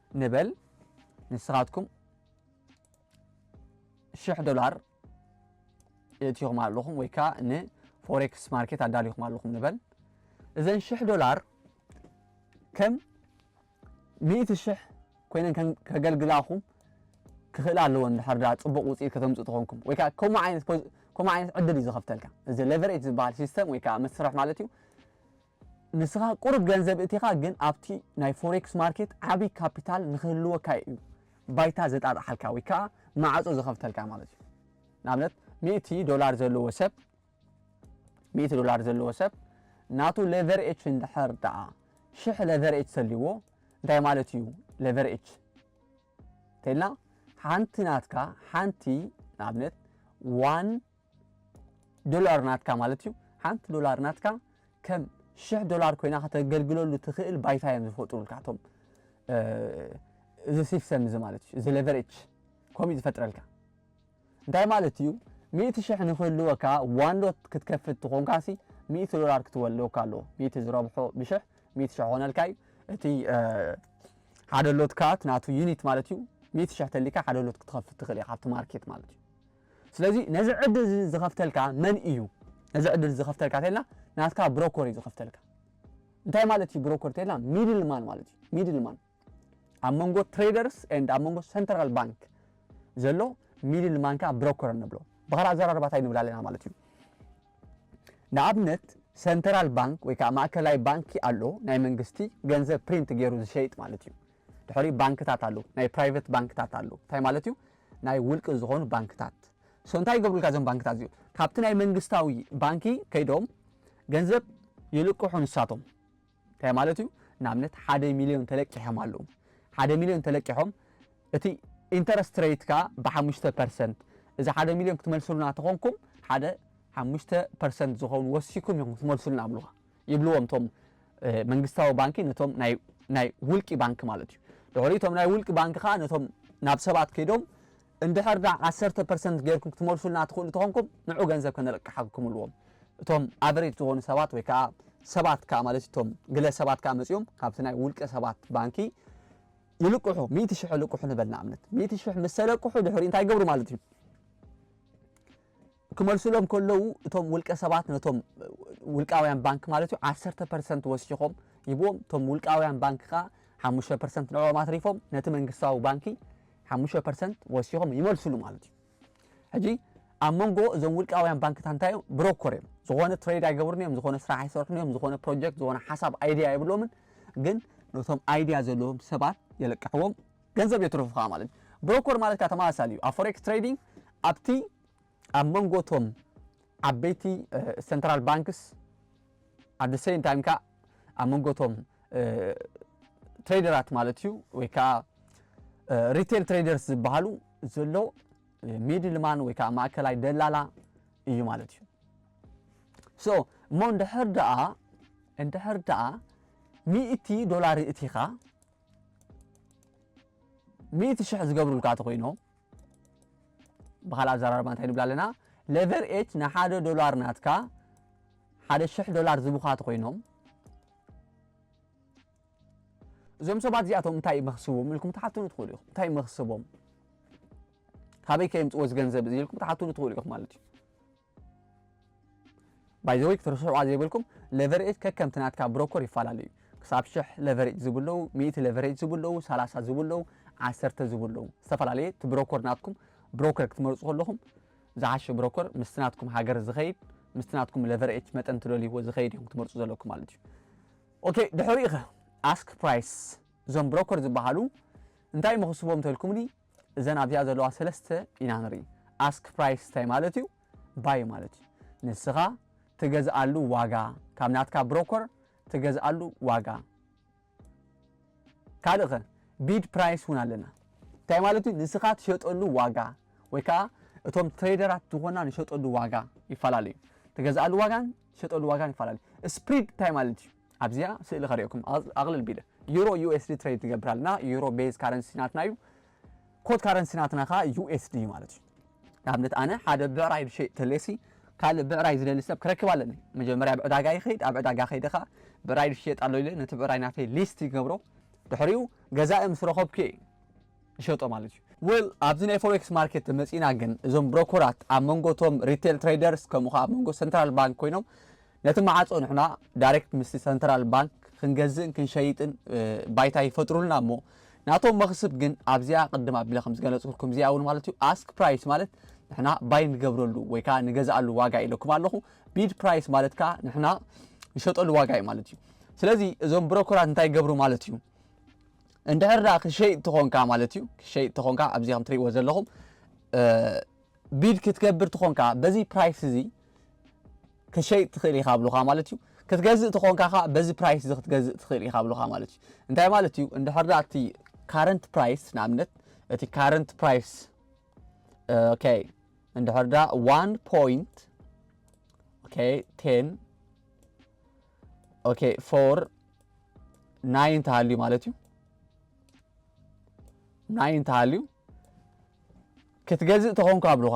ንበል ንስኻትኩም ሽሕ ዶላር የእትኹም ኣለኹም ወይ ከዓ ንፎሬክስ ማርኬት ኣዳሊኹም ኣለኹም ንበል እዘን ሽሕ ዶላር ከም ሚእቲ ሽሕ ኮይነን ከገልግላኹም ክኽእላ ኣለዎ እንድሕር ዳ ፅቡቕ ውፅኢት ከተምፅእ ትኾንኩም ወይ ከዓ ከምኡ ዓይነት ከምኡ ዓይነት ዕድል እዩ ዝኸፍተልካ እዚ ሌቨሬጅ ዝበሃል ሲስተም ወይ ከዓ መስርሕ ማለት እዩ ንስኻ ቁሩብ ገንዘብ እቲኻ ግን ኣብቲ ናይ ፎሬክስ ማርኬት ዓቢ ካፒታል ንኽህልወካ እዩ ባይታ ዘጣጥሓልካ ወይ ከኣ ማዕጾ ዝኸፍተልካ ማለት እዩ። ንኣብነት ሚእቲ ዶላር ዘለዎ ሰብ ሚእቲ ዶላር ዘለዎ ሰብ ናቱ ሌቨርኤች እንድሕር ደኣ ሽሕ ሌቨርኤች ተልይዎ እንታይ ማለት እዩ ሌቨርኤች እንተኢልና ሓንቲ ናትካ ሓንቲ ንኣብነት ዋን ዶላር ናትካ ማለት እዩ። ሓንቲ ዶላር ናትካ ከም ሽሕ ዶላር ኮይና ከተገልግለሉ ትኽእል ባይታ እዮም ዝፈጥሩልካ እቶም እዚ ሲስተም እዚ ማለት እዩ እዚ ሌቨሬጅ ከምኡ እዩ ዝፈጥረልካ እንታይ ማለት እዩ ሚእቲ ሽሕ ንክህልወካ ዋንዶት ክትከፍት ትኾንካ ሲ ሚእቲ ዶላር ክትወልወካ ኣለዎ ሚእቲ ዝረብሖ ብሽሕ ሚእቲ ሽሕ ኾነልካ እዩ እቲ ሓደ ሎትካ ናቱ ዩኒት ማለት እዩ ሚእቲ ሽሕ ተሊካ ሓደ ሎት ክትኸፍት ትኽእል ኢኻ ኣብቲ ማርኬት ማለት እዩ ስለዚ ነዚ ዕድል እዚ ዝኸፍተልካ መን እዩ? ነዚ ዕድል እዚ ዝኸፍተልካ እንተኢልና ናትካ ብሮኮር እዩ ዝኸፍተልካ። እንታይ ማለት እዩ ብሮኮር እንተኢልና ሚድል ማን ማለት እዩ። ሚድል ማን ኣብ መንጎ ትሬደርስ ኤንድ ኣብ መንጎ ሰንትራል ባንክ ዘሎ ሚድል ማን ከዓ ብሮኮር ንብሎ። ብኻልእ ኣዘራርባ እንታይ ንብል ኣለና ማለት እዩ። ንኣብነት ሰንትራል ባንክ ወይ ከዓ ማእከላይ ባንኪ ኣሎ ናይ መንግስቲ ገንዘብ ፕሪንት ገይሩ ዝሸይጥ ማለት እዩ። ድሕሪ ባንክታት ኣሎ ናይ ፕራይቨት ባንክታት ኣሎ እንታይ ማለት እዩ ናይ ውልቂ ዝኾኑ ባንክታት so እንታይ ይገብሩልካ እዞም ባንክታት እዚኦም ካብቲ ናይ መንግስታዊ ባንኪ ከይዶም ገንዘብ ይልቅሑ ንሳቶም እንታይ ማለት እዩ ንኣብነት ሓደ ሚልዮን ተለቂሖም ኣለዉ ሓደ ሚልዮን ተለቂሖም እቲ ኢንተረስት ሬትካ ብሓሙሽተ ፐርሰንት እዚ ሓደ ሚልዮን ክትመልሱልና ተኾንኩም ሓደ ሓሙሽተ ፐርሰንት ዝኾኑ ወሲኩም ኢኹም ክትመልሱልና ኣብሉኻ ይብልዎም እቶም መንግስታዊ ባንኪ ነቶም ናይ ናይ ውልቂ ባንኪ ማለት እዩ ድሕሪ እቶም ናይ ውልቂ ባንኪ ከዓ ነቶም ናብ ሰባት ከይዶም እንድሕር ዳ ዓሰርተ ፐርሰንት ጌርኩም ክትመልሱልና ትኽእሉ ተኾንኩም ንዑ ገንዘብ ከነለቅሓኩም እልዎም እቶም ኣቨሬጅ ዝኾኑ ሰባት ወይ ከዓ ሰባት ከዓ ማለት እቶም ግለ ሰባት ከዓ መፂኦም ካብቲ ናይ ውልቀ ሰባት ባንኪ ይልቅሑ ሚእቲ ሽሕ ልቅሑ ንበል ንኣብነት ሚእቲ ሽሕ ምስ ተለቅሑ ድሕሪ እንታይ ገብሩ ማለት እዩ ክመልሱሎም ከለዉ እቶም ውልቀ ሰባት ነቶም ውልቃውያን ባንክ ማለት እዩ ዓሰርተ ፐርሰንት ወሲኾም ይብዎም እቶም ውልቃውያን ባንክ ከዓ ሓሙሽተ ፐርሰንት ንዕኦም ኣትሪፎም ነቲ መንግስታዊ ባንኪ ሓሙሽተ ፐርሰንት ወሲኾም ይመልሱሉ ማለት እዩ ሕጂ ኣብ መንጎ እዞም ውልቃውያን ባንክታት እንታይ እዮም ብሮኮር እዮም ዝኾነ ትሬድ ኣይገብሩን እዮም ዝኾነ ስራሕ ኣይሰርሑን እዮም ዝኾነ ፕሮጀክት ዝኾነ ሓሳብ ኣይድያ የብሎምን ግን ነቶም ኣይድያ ዘለዎም ሰባት የለቅሕዎም ገንዘብ የትርፉኻ ማለት እዩ ብሮኮር ማለት ከዓ ተመሳሳሊ እዩ ኣብ ፎሬክስ ትሬዲንግ ኣብቲ ኣብ መንጎ እቶም ዓበይቲ ሰንትራል ባንክስ ኣብ the same time ከኣ ኣብ መንጎ እቶም ትሬደራት ማለት እዩ ወይ ከኣ ሪቴል ትሬደርስ ዝበሃሉ ዘሎ ሚድልማን ወይ ከኣ ማእከላይ ደላላ እዩ ማለት እዩ ሶ እሞ እንድሕር ደኣ እንድሕር ደኣ ሚእቲ ዶላር እቲኻ ሚእቲ ሽሕ ዝገብሩልካ ተኾይኖም ብኻልእ ኣዘራርባ እንታይ ንብላ ኣለና ሌቨር ኤች ንሓደ ዶላር ናትካ ሓደ ሽሕ ዶላር ዝቡኻ ተኾይኖም እዞም ሰባት እዚኣቶም እንታይ መኽስቦም ኢልኩም ትሓትኑ ትኽእሉ ኢኹም እንታይ መኽስቦም ካበይ ከየምፅዎ እዚ ገንዘብ እዚ ኢልኩም ትሓትኑ ትኽእሉ ኢኹም ማለት እዩ ባይ ዘ ዌይ ክትርስዑዋ ዘይብልኩም ለቨርኤጅ ከከምቲ ናትካ ብሮኮር ይፋላለ እዩ ክሳብ ሽሕ ለቨሬጅ ዝቡ ኣለዉ ሚእቲ ለቨሬጅ ዝቡ ኣለዉ ሰላሳ ዝቡ ኣለዉ ዓሰርተ ዝቡ ኣለዉ ዝተፈላለየ እቲ ብሮኮር ናትኩም ብሮከር ክትመርጹ ከለኹም ዝሓሸ ብሮኮር ምስቲ ናትኩም ሃገር ዝኸይድ ምስቲ ናትኩም ለቨርኤጅ መጠን ትደልይዎ ዝኸይድ እዮም ክትመርጹ ዘለኩም ማለት እዩ ኦኬ ድሕሪኡ ኸ ኣስክ ፕራይስ እዞም ብሮኮር ዝበሃሉ እንታይ መኽስቦም ተልኩምኒ እዘን ኣብዚኣ ዘለዋ ሰለስተ ኢና ንርኢ። ኣስክ ፕራይስ እንታይ ማለት እዩ? ባይ ማለት እዩ። ንስኻ ትገዝኣሉ ዋጋ፣ ካብ ናትካ ብሮኮር ትገዝኣሉ ዋጋ። ካልእ ከ ቢድ ፕራይስ እውን ኣለና። እንታይ ማለት እዩ? ንስኻ ትሸጠሉ ዋጋ ወይ ከዓ እቶም ትሬደራት ዝኾና ንሸጠሉ ዋጋ ይፈላለዩ። ትገዝኣሉ ዋጋን ትሸጠሉ ዋጋን ይፈላለዩ። ስፕሪድ እንታይ ማለት እዩ? ኣብዚኣ ስእሊ ከርእየኩም ኣቅልል ቢለ ዩሮ USD ትሬድ ትገብር ኣለና ዩሮ ቤዝ ካረንሲ ናትና እዩ ኮድ ካረንሲ ናትና ከኣ USD እዩ ማለት እዩ ንኣብነት ኣነ ሓደ ብዕራይ ዝሸይጥ ተሌሲ ካልእ ብዕራይ ዝደሊ ሰብ ክረክብ ኣለኒ መጀመርያ ኣብ ዕዳጋ ይኸይድ ኣብ ዕዳጋ ከይደ ከኣ ብዕራይ ዝሸየጥ ኣሎ ኢለ ነቲ ብዕራይ ናተይ ሊስት ይገብሮ ድሕሪኡ ገዛኢ ምስ ረኸብኩ እየ ይሸጦ ማለት እዩ። ዌል ኣብዚ ናይ ፎሬክስ ማርኬት ተመጺእና ግን እዞም ብሮኮራት ኣብ መንጎ እቶም ሪቴል ትሬደርስ ከምኡ ከኣ ኣብ መንጎ ሰንትራል ባንክ ኮይኖም ነቲ መዓጾ ንሕና ዳይሬክት ምስቲ ሰንትራል ባንክ ክንገዝእን ክንሸይጥን ባይታ ይፈጥሩልና እሞ ናቶም መኽስብ ግን ኣብዚኣ ቅድም ኣቢለ ከም ዝገለጽኩልኩም እዚኣ እውን ማለት እዩ ኣስክ ፕራይስ ማለት ንሕና ባይ ንገብረሉ ወይ ከዓ ንገዝኣሉ ዋጋ ኢለኩም ኣለኹ ቢድ ፕራይስ ማለት ከዓ ንሕና ንሸጠሉ ዋጋ እዩ ማለት እዩ ስለዚ እዞም ብሮኮራት እንታይ ይገብሩ ማለት እዩ እንድሕር ደኣ ክሸይጥ ተኾንካ ማለት እዩ ክሸይጥ ተኾንካ ኣብዚ ከም ትሪእዎ ዘለኹም ቢድ ክትገብር ተኾንካ በዚ ፕራይስ እዚ ክሸይጥ ትኽእል ኢኻ ብሉኻ ማለት እዩ ክትገዝእ ተኾንካ ከዓ በዚ ፕራይስ እዚ ክትገዝእ ትኽእል ኢኻ ብሉኻ ማለት እዩ እንታይ ማለት እዩ እንድሕር ደኣ እቲ ካረንት ፕራይስ ንኣብነት እቲ ካረንት ፕራይስ ኦኬ እንድሕር ደኣ ዋን ፖይንት ኦኬ ቴን ኦኬ ፎር ናይ እንተሃልዩ ማለት እዩ ናይ እንተሃልዩ ክትገዝእ ተኾንካ ኣብሉኻ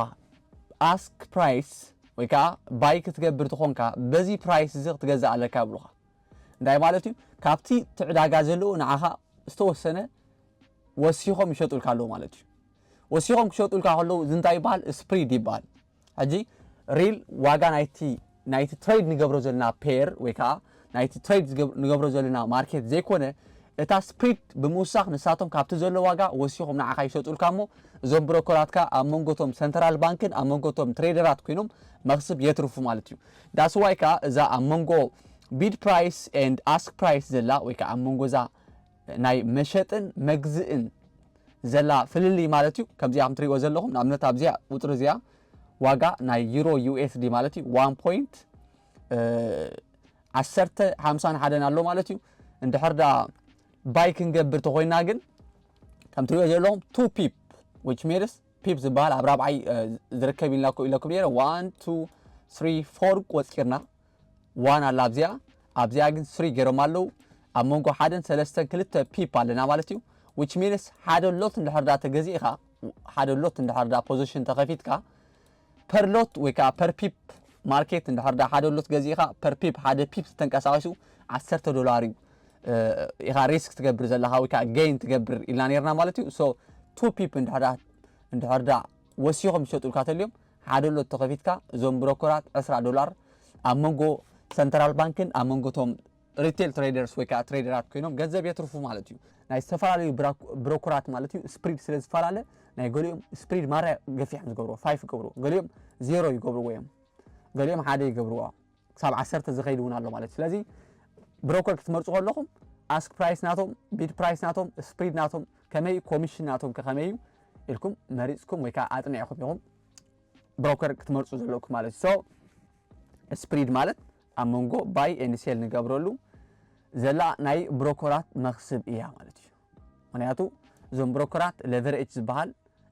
ኣስክ ፕራይስ ወይ ከዓ ባይ ክትገብር ተኾንካ በዚ ፕራይስ እዚ ክትገዝእ ኣለካ ኣብሉኻ እንታይ ማለት እዩ ካብቲ ትዕዳጋ ዘለዎ ንዓኻ ዝተወሰነ ወሲኾም ይሸጡልካ ኣለዉ ማለት እዩ ወሲኾም ክሸጡልካ ከለዉ እዚ እንታይ ይበሃል ስፕሪድ ይበሃል ሕጂ ሪል ዋጋ ናይቲ ናይቲ ትሬድ ንገብሮ ዘለና ፔር ወይ ከዓ ናይቲ ትሬድ ንገብሮ ዘለና ማርኬት ዘይኮነ እታ ስፕሪድ ብምውሳኽ ንሳቶም ካብቲ ዘሎ ዋጋ ወሲኾም ንዓኻ ይሸጡልካ እሞ እዞም ብሮከራትካ ኣብ መንጎቶም ሰንትራል ባንክን ኣብ መንጎቶም ትሬደራት ኮይኖም መኽስብ የትርፉ ማለት እዩ ዳስዋይ ከዓ እዛ ኣብ መንጎ ቢድ ፕራይስ ኤንድ ኣስክ ፕራይስ ዘላ ወይ ከዓ ኣብ መንጎ እዛ ናይ መሸጥን መግዝእን ዘላ ፍልልይ ማለት እዩ። ከምዚኣ ከም ትሪእዎ ዘለኹም ንኣብነት ኣብዚኣ ቁፅሪ እዚኣ ዋጋ ናይ ዩሮ ዩኤስዲ ማለት እዩ ዋን ፖይንት ዓሰርተ ሓምሳን ሓደን ኣሎ ማለት እዩ። እንድሕር ዳ ባይ ክንገብር ተኾይና ግን ከም ትሪእዎ ዘለኹም ቱ ፒፕ ዊች ሜድስ ፒፕ ዝበሃል ኣብ ራብዓይ ዝርከብ ኢልናኮ ኢለኩም ነይረ ዋን ቱ ስሪ ፎር ቆፂርና ዋን ኣላ ኣብዚኣ ኣብዚኣ ግን ስሪ ገይሮም ኣለው ኣብ መንጎ ሓደን ሰለስተን ክልተ ፒፕ ኣለና ማለት እዩ which means ሓደ ሎት እንድሕር ዳ ተገዚእኻ ሓደ ሎት እንድሕር ዳ ፖዚሽን ተኸፊትካ ፐር ሎት ወይ ከዓ ፐር ፒፕ ማርኬት እንድሕር ዳ ሓደ ሎት ገዚእኻ ፐር ፒፕ ሓደ ፒፕ ዝተንቀሳቐሱ ዓሰርተ ዶላር እዩ ኢኻ ሪስክ ትገብር ዘለኻ ወይ ከዓ ገይን ትገብር ኢልና ነርና ማለት እዩ ሶ ቱ ፒፕ እንድሕር ዳ እንድሕር ዳ ወሲኾም ዝሸጡልካ ተልዮም ሓደ ሎቶ ከፊትካ እዞም ብሮኮራት ዕስራ ዶላር ኣብ መንጎ ሰንተራል ባንክን ኣብ መንጎ ቶም ሪቴል ትሬደርስ ወይ ከዓ ትሬደራት ኮይኖም ገንዘብ የትርፉ ማለት እዩ። ናይ ዝተፈላለዩ ብሮኮራት ማለት እዩ ስፕሪድ ስለ ዝፈላለ ናይ ገሊኦም ስፕሪድ ማራ ገፊሖም ዝገብርዎ ፋይፍ ይገብርዎ ገሊኦም ዜሮ ይገብርዎ እዮም ገሊኦም ሓደ ይገብርዎ። ክሳብ ዓሰርተ ዝኸይድ እውን ኣሎ ማለት እዩ ስለዚ ብሮከር ክትመርፁ ከለኹም ኣስክ ፕራይስ ናቶም ቢድ ፕራይስ ናቶም ስፕሪድ ናቶም ከመይ እዩ ኮሚሽን ናቶም ከመይ እዩ ኢልኩም መሪፅኩም ወይ ከዓ ኣጥኒዕኹም ኢኹም ብሮከር ክትመርፁ ዘለኩም ማለት እዩ ሶ ስፕሪድ ማለት ኣብ መንጎ ባይ ኤንሴል ንገብረሉ ዘላ ናይ ብሮኮራት መክስብ እያ ማለት እዩ ምኽንያቱ እዞም ብሮከራት ለቨረጅ ዝበሃል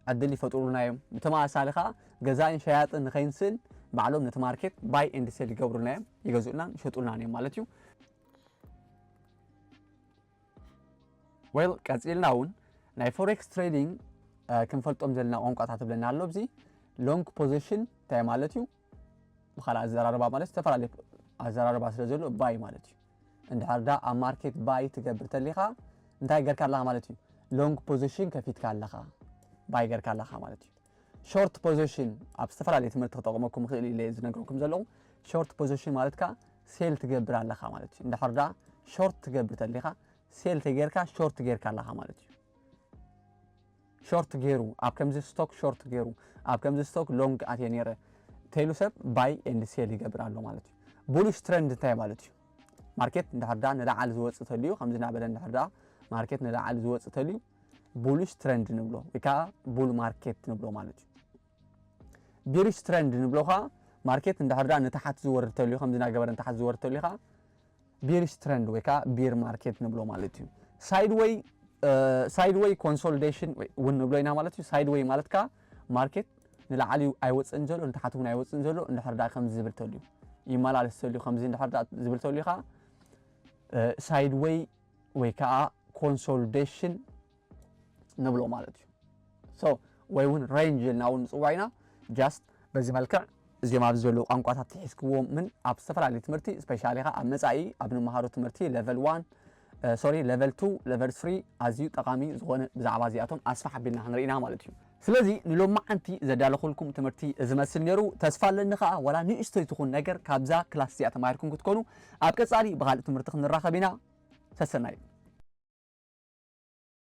ዕድል ይፈጥሩልና እዮም። ብተመሳሳሊ ከኣ ገዛእን ሸያጥን ንኸይንስእን ባዕሎም ነቲ ማርኬት ባይ ኤንድ ሴል ይገብሩልና እዮም፣ ይገዝኡልናን ይሸጡልናን እዮም ማለት እዩ። ዌል ቀጺልና እውን ናይ ፎሬክስ ትሬዲንግ ክንፈልጦም ዘለና ቋንቋታት እብለና ኣሎ። ኣብዚ ሎንግ ፖዚሽን እንታይ ማለት እዩ፣ ብኻልእ ኣዘራርባ ማለት ዝተፈላለየ ኣዘራርባ ስለ ዘሎ ባይ ማለት እዩ እንድሕር ዳ ኣብ ማርኬት ባይ ትገብር ተሊኻ እንታይ ገርካ ኣለኻ ማለት እዩ ሎንግ ፖዚሽን ከፊትካ ኣለኻ ባይ ገርካ ኣለኻ ማለት እዩ ሾርት ፖዚሽን ኣብ ዝተፈላለየ ትምህርቲ ክጠቕመኩም ክእል ኢለ ዝነገርኩም ዘለኹ ሾርት ፖዚሽን ማለት ከ ሴል ትገብር ኣለኻ ማለት እዩ እንድሕር ዳ ሾርት ትገብር ተሊኻ ሴል ተጌርካ ሾርት ጌርካ ኣለኻ ማለት እዩ ሾርት ጌሩ ኣብ ከምዚ ስቶክ ሾርት ጌሩ ኣብ ከምዚ ስቶክ ሎንግ ኣትየ ኔረ ተይሉ ሰብ ባይ ኤንድ ሴል ይገብር ኣሎ ማለት እዩ ቡሉሽ ትረንድ እንታይ ማለት እዩ ማርኬት እንድሕር ዳ ንላዕሊ ዝወፅእ ተልዩ ከምዚ እናበለ እንድሕር ዳ ማርኬት ንላዕሊ ዝወፅእ ተልዩ ቡሉሽ ትረንድ ንብሎ ወይ ከዓ ቡል ማርኬት ንብሎ ማለት እዩ ቢሪሽ ትረንድ ንብሎ ከኣ ማርኬት እንድሕር ደኣ ንታሓት ዝወርድ ተልዩ ከምዚ ናገበረ ንታሓት ዝወርድ ተልዩ ከኣ ቢሪሽ ትረንድ ወይ ከኣ ቢር ማርኬት ንብሎ ማለት እዩ ሳይድ ወይ ሳይድ ወይ ኮንሶሊዴሽን እውን ንብሎ ኢና ማለት እዩ ሳይድ ወይ ማለት ከኣ ማርኬት ንላዕሊ ኣይወፅእን ዘሎ ንታሓት እውን ኣይወፅእን ዘሎ እንድሕር ደኣ ከምዚ ዝብል ተልዩ ይመላለስ ተልዩ ከምዚ እንድሕር ደኣ ዝብል ተልዩ ከኣ ሳይድ ወይ ወይ ከኣ ኮንሶሊዴሽን ንብሎ ማለት እዩ ሶ ወይ እውን ሬንጅ ኢልና እውን ንፅዋዕ ኢና ጃስት በዚ መልክዕ እዚኦም ኣብዚ ዘለዉ ቋንቋታት ትሒዝክዎምን ኣብ ዝተፈላለዩ ትምህርቲ ስፔሻሊ ኸ ኣብ መፃኢ ኣብ ንመሃሮ ትምህርቲ ሌቨል ዋን ሶሪ ሌቨል ቱ ሌቨል ስሪ ኣዝዩ ጠቓሚ ዝኾነ ብዛዕባ እዚኣቶም ኣስፋሕ ኣቢልና ክንርኢና ማለት እዩ ስለዚ ንሎማዓንቲ ዘዳለኹልኩም ትምህርቲ እዚ መስል ነይሩ ተስፋ ኣለኒ ከዓ ዋላ ንእሽተይ ትኹን ነገር ካብዛ ክላስ እዚኣ ተማሂርኩም ክትኮኑ ኣብ ቀፃሊ ብካልእ ትምህርቲ ክንራኸብ ኢና ሰሰናዩ